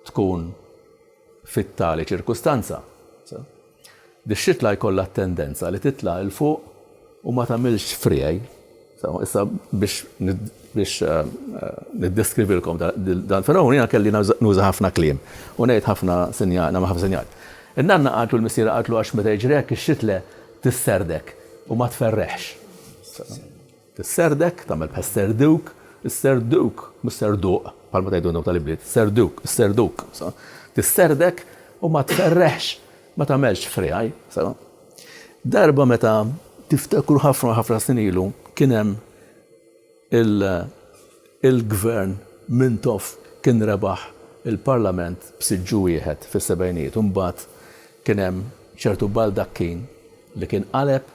tkun fit-tali ċirkustanza, Dix-xitla jkollha t-tendenza li titla' 'l fuq u ma tagħmilx friegħi. Issa biex biex niddeskrivilkom dan fenomenu jiena kelli nuża ħafna kliem u ngħid ħafna sinjal, nagħmel ħafna sinjal. In-nanna qaltlu l-missiera qaltlu għax meta jiġri hekk ix-xitle tisserdek u ma tferreħx. Is-Serdek, tagħmel bħal Serduk, is-Serduk, mhux Serduq, bħalma tgħidu intom tal-ibliet, Serduk, is-Serduk, so. Tisserdek u ma tferreħx, ma tagħmelx friegħi, so. Darba meta tiftakru ħafna ħafna snin ilu kien hemm il-gvern Mintoff kien rebaħ il-Parlament b'siġġu wieħed fis-sebgħinijiet u mbagħad kien hemm ċertu baldakkin li kien qaleb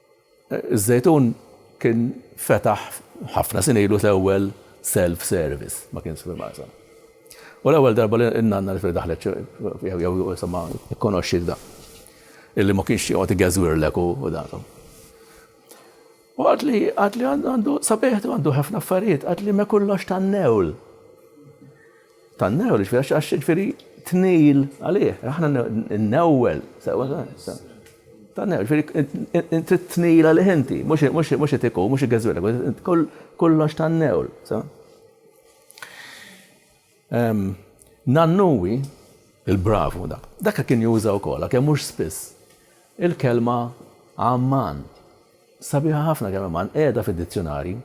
Iż-Żejtun kien fetaħ ħafna snin ilu l-ewwel self service, ma kienx fil-Marsa. U l-ewwel darba li n-nanna li daħlet jew jisimha kkonoxxiet da. Illi ma kienx joqgħod igeżwirlek u datom. U għad li għad li għandu sabiħtu għandu ħafna affarijiet, għad li ma kollox tan-newl. Tan-newwel, jiġifieri għax jiġifieri tnejl għalih, aħna n-newwel. Tan-newwel, jiġifieri trid tnejl għalih inti, mhux itiku, mhux iggeżwilek, kollox tan-newwel. Nannuwi, il-bravu dak, dak kien juża wkoll, għalkemm mhux spiss. Il-kelma Amman, sabiħa ħafna kelma Amman, qiegħda fid-dizzjunarju.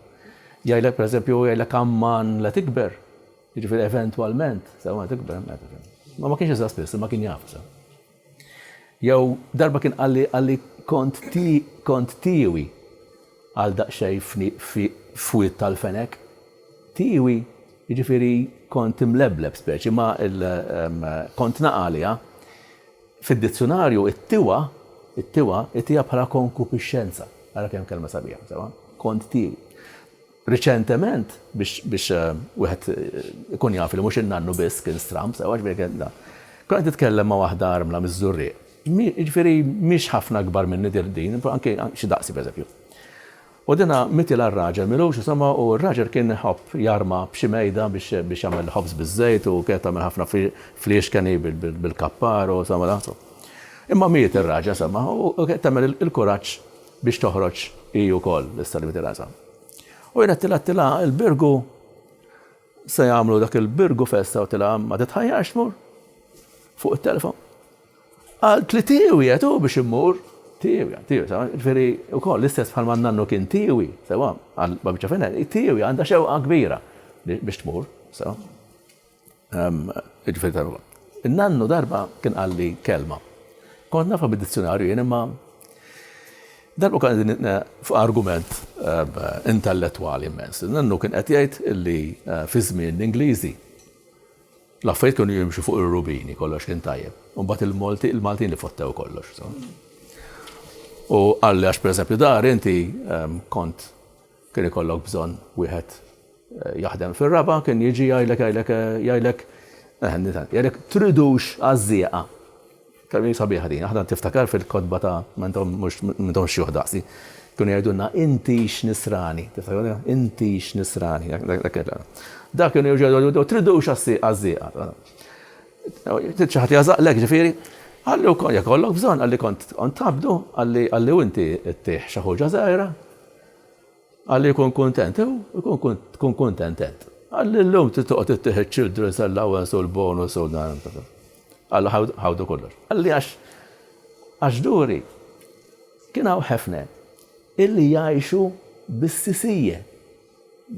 Jgħidlek pereżempju u jgħidlek Amman la tikber, jiġifieri eventwalment, sakemm ma tikber, meta kien. Ma ma kienx iżgħa spiss, imma kien jaf sa. Jew darba kien qalli qalli kont ti kont tiewi għal daqsxejn f'wied tal-fenek. Tiewi, jiġifieri kont imlebleb speċi, ma kont naqa' għaliha. Fid-dizzjunarju it-tiwa, it-tiwa, ittiha bħala konkupixxenza. Ara kemm kelma sabiħa, sewwa? Kont tiewi. Riċentement, biex, biex wieħed ikun jaf li mhux in-nannu biss kien stramb, sewwa ġifieri kien da. Kont qed nitkellem ma' waħda armla miż-Żurrieq. Jiġifieri mhix ħafna akbar minni din, anke xi daqsi pereżempju. U dinha mitilha r-raġel m'ilux isemgħu u r-raġel kien iħobb jarma b'xi mejda biex biex jagħmel ħobż biż-żejt u kienet tagħmel ħafna fliexken hi bil-kappar u semgħu dan so. Imma miet ir-raġel semgħu u u kienet tagħmel il-kuraġġ biex toħroġ hi wkoll issa li mitilha sa. U jien għedtilha għedtilha il-Birgu se jagħmlu dak il-Birgu festa u tilha ma titħajjarx tmur fuq it-telefon. Qaltli li tiewi qed hu biex immur. Tiewi, għal tiewi, sewwa. Jiġifieri, ukoll, l-istess bħalma n-nannu kien tiewi, sewwa, għal Babiċċa Fina, hi tiewi, għandha xewqa kbira biex tmur, sewwa. Jiġifieri tal-. In-nannu darba kien qalli kelma. Kont nafha mid-dizzjunarju jien imma darba kont qegħdin fuq argument intellettwali immens. In-nannu kien qed jgħid illi fi żmien l-Ingliżi, L-affarijiet kienu jimxu fuq ir-rubini, kollox kien tajjeb. U mbagħad il-Malti, il-Maltin li fottew kollox. U qalli għax pereżempju dar inti ehm, kont kien ikollok bżonn wieħed eh, jaħdem fir-raba, kien jiġi jgħidlek jgħidlek eh, jgħidlek eh, jgħidlek tridux għażżieqa. Kemm sabiħa din, aħna tiftakar fil-kotba ta' ma intom mhux ma intomx xjuħ daqsi, kienu jgħidulna intix Nisrani, tiftakru, intix Nisrani, dak kienu jerġgħu jgħidu tridux għaż-żieqa. Trid xi ħadd jagħżaqlek ġifieri, qalli wkoll jekk ikollok bżonn qalli kont tgħabbdu qalli u inti ttih xi ħuġa żgħira. Alla jkun kuntent, hu jkun tkun kuntent int. Alla illum trid toqgħod ittih iċ-children's allowance u l-bonus u dan. Alla ħawdu kollox. Qalli għax għax duri kien hawn ħefna illi jgħixu bis-sisija.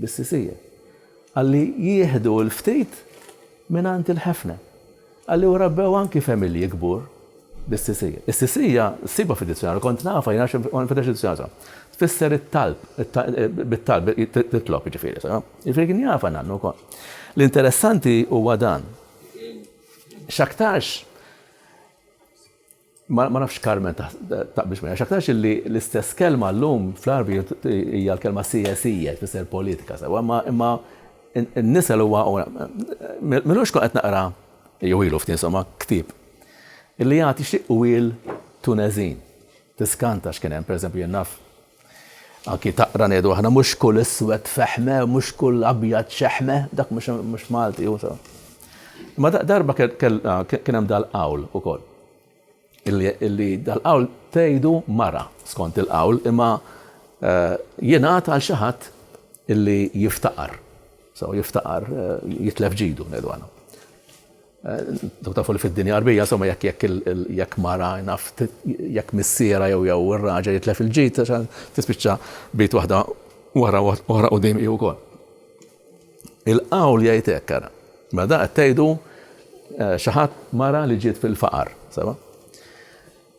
Bis-sisija. Qalli jieħdu l-ftit mingħand il-ħefna. Għalli u rabbew anki femilji kbur bis-sisija. Is-sisija ssibha fid-dizzjonarju, kont nafha jien għax kont nfittex id-dizzjonarju. Tfisser it-talb, bit-talb, titlob jiġifieri. Jiġifieri kien jafha nannu wkoll. L-interessanti huwa dan. X'aktarx Ma ma nafx Carmen taqbilx miegħi, x'aktarx illi l-istess kelma llum fl-Għarbi hija l-kelma sijasija tfisser politika sewwa, imma imma n-nisel huwa minux kont qed naqra jew ilu ftit insomma ktieb illi jagħti xi qwiel Tunezin. Tiskanta x'kien hemm, pereżempju jien naf Anki taqra ngħidu aħna mhux kull iswed fehme, mhux kull abjad xeħme, dak mhux Malti hu sew. Imma darba kien hemm dal-qawl ukoll. Illi dal-qawl tgħidu mara skont il-qawl imma jingħad għal xi ħadd illi jiftaqar. So jiftaqar jitlef ġidu ngħidu aħna. Dawk tafu li fid-dinja Għarbija, insomma, jekk jekk jekk mara naf jekk missiera jew jew ir-raġel jitlef il-ġid tispiċċa bejt waħda wara oħra qudiem hi wkoll. Il-qawl jgħid hekk ara. Ma da qed tgħidu eh, xi ħadd mara li ġiet fil-faqar, seba'?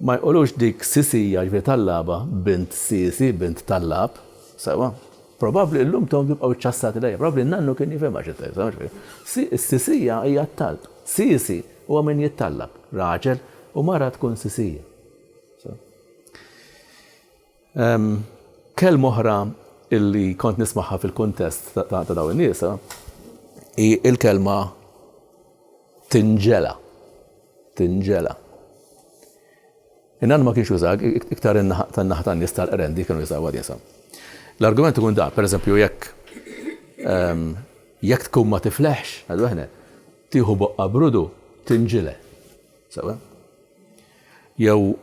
Ma jqulux dik Sisija, jiġifieri Tallaba, bint Sisi, bint Tallab. Sewwa? Probabbli illum intom tibqgħu ċċassati lejha, probabbli n-nannu kien jifhimha xi tgħid, sewwa jiġifieri. Si, is-Sisija hija t-talb. Sisi huwa min jittallab, raġel u mara tkun Sisija. Sewwa? Kelma oħra illi kont nismagħha fil-kuntest ta' dawn in-nies hi l-kelma tinġela. Tinġela. Innan ma kienx uża iktar tan-naħa tan-nies tal-qrendi kienu jużaw għadisa. L-argument ikun da, pereżempju jekk jekk tkun ma tifleħx, għadu aħna, tieħu boqqa brudu tinġile. Sewa? Jew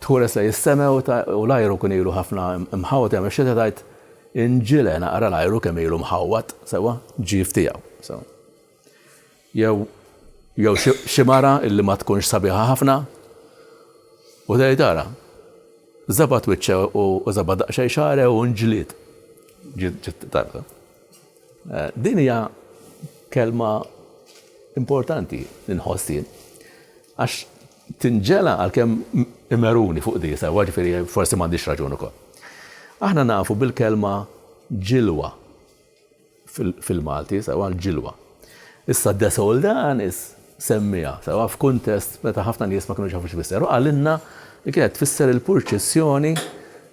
tħules lejn is-sema u l-ajru jkun ilu ħafna mħawwad, jew ix-xita tgħid, Inġile naqra l-ajru kemm ilu mħawwad sewwa, ġief tiegħu sewwa. Jew jew xi mara illi ma tkunx sabiħa ħafna u tgħid ara, żabat wiċċha u żabat daqsxejn xagħre u nġlied. Ġiet tajba. Eh, din hija kelma importanti li nħossien. Għax tinġela għalkemm imeruni fuq di, sewwa, ġifieri forsi m'għandix raġun ukoll. Aħna nafu bil-kelma ġilwa fil-Malti, sewwa, l-ġilwa. Issa De Soldanis semmiha, sewwa, f'kuntest meta ħafna nies ma kinux jafu x'tfisser u qalilna li kienet tfisser il-purċissjoni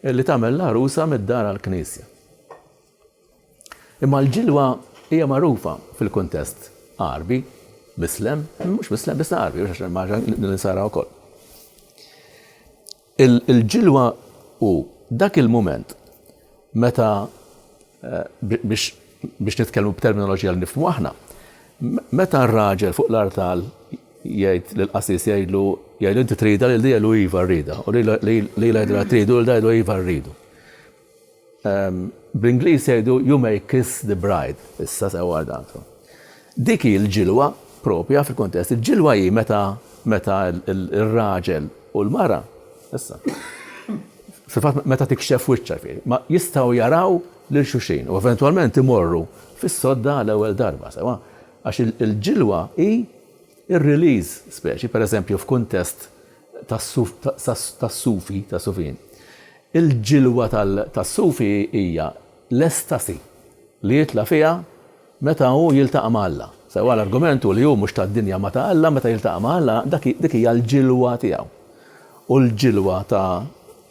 li tagħmel l-għarusa mid-dar għall-knisja. Imma l-ġilwa hija magħrufa fil-kuntest Għarbi, Mislem, mhux Mislem biss Għarbi, biex għax maġa l-insara wkoll. Il-ġilwa u dak il-mument meta eh, biex biex nitkellmu b'terminoloġija li nifhmu aħna, meta r-raġel fuq l-artal jgħid l qasis jgħidlu jgħidlu inti trida lil dija lu iva rrida, u li jgħidlu tridu lil dija lu iva rridu. Bl-Ingliż jgħidu you may kiss the bride, issa se wardatha. Dik hi l-ġilwa proprja fil-kuntest. Il-ġilwa hi meta meta r-raġel u l-mara, issa, fil-fatt meta tikxef wiċċha fih, ma jistgħu jaraw lil xulxin u eventwalment imorru fis-sodda għal ewwel darba sewwa. Għax il-ġilwa hi r-release speċi, pereżempju f'kuntest tas-sufi, tas-sufin. Il-ġilwa tas-sufi hija l-estasi li jitla' fiha meta hu jiltaqa' ma' Alla. Sewwa l-argument hu li hu mhux tad-dinja ma ta' Alla, meta jiltaqa' ma' Alla dik hija l-ġilwa tiegħu. U l-ġilwa ta'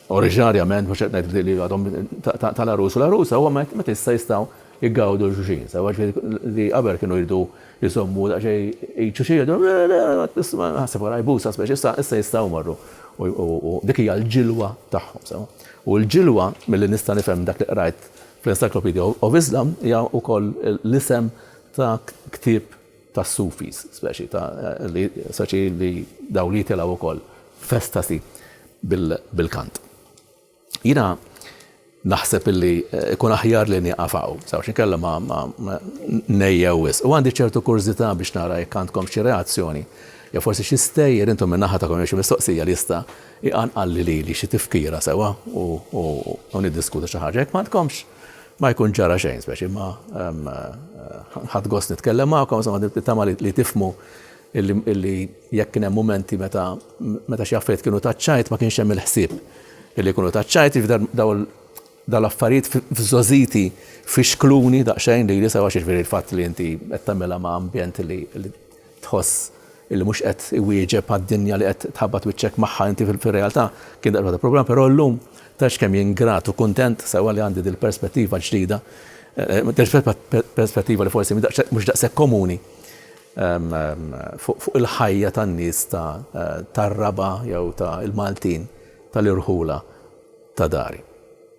Oriġinarjament, mhux qed ngħid li għadhom tal-għarus u l-għarusa, huwa meta issa jistgħu jgawdu lil xulxin sewwa, ġifieri li qabel kienu jridu jżommu daqsxejn id xulxin jgħidu le le isma' ħasseb wara jbusha speċi issa issa jistgħu jmorru u dik hija l-ġilwa tagħhom sewwa. U l-ġilwa milli nista' nifhem dak li qrajt fl-Encyclopedia of Islam hija wkoll l-isem ta' ktieb tas-Sufis, speċi ta' li speċi li dawn jitilgħu wkoll f'estasi bil-kant. Jiena naħseb illi ikun aħjar li nieqaf hawn, sewx inkella ma ngħejjew wisq. U għandi ċertu kurżità biex nara jekk għandkom xi reazzjoni jew forsi xi stejjer intom minn naħa tagħkom jew xi mistoqsija li jista' jqanqalli lili xi tifkira sewwa u niddiskutu xi ħaġa. Jekk m'għandkomx, Ma jkun ġara xejn speċi imma ħadt gost nitkellem magħkom, insomma nittama li tifmu illi jekk kien hemm mumenti meta meta xi affarijiet kienu taċċajt ma kienx hemm il-ħsieb illi jkunu taċċajt daw dal-affarijiet f'żożiti fixkluni daqsxejn li jisa għax jiġifieri l-fatt li inti qed tagħmilha ma' ambjent li tħoss illi mhux qed iwieġeb għad-dinja li qed tħabbat wiċċek magħha inti fir-realtà, kien daqsxejn waħda problema, però llum tgħidx kemm jien grat u kuntent sewwa li għandi dil-perspettiva ġdida, perspettiva li forsi mhux daqshekk komuni fuq il-ħajja tan-nies tar-Raba' jew ta' il-Maltin tal-irħula ta' dari.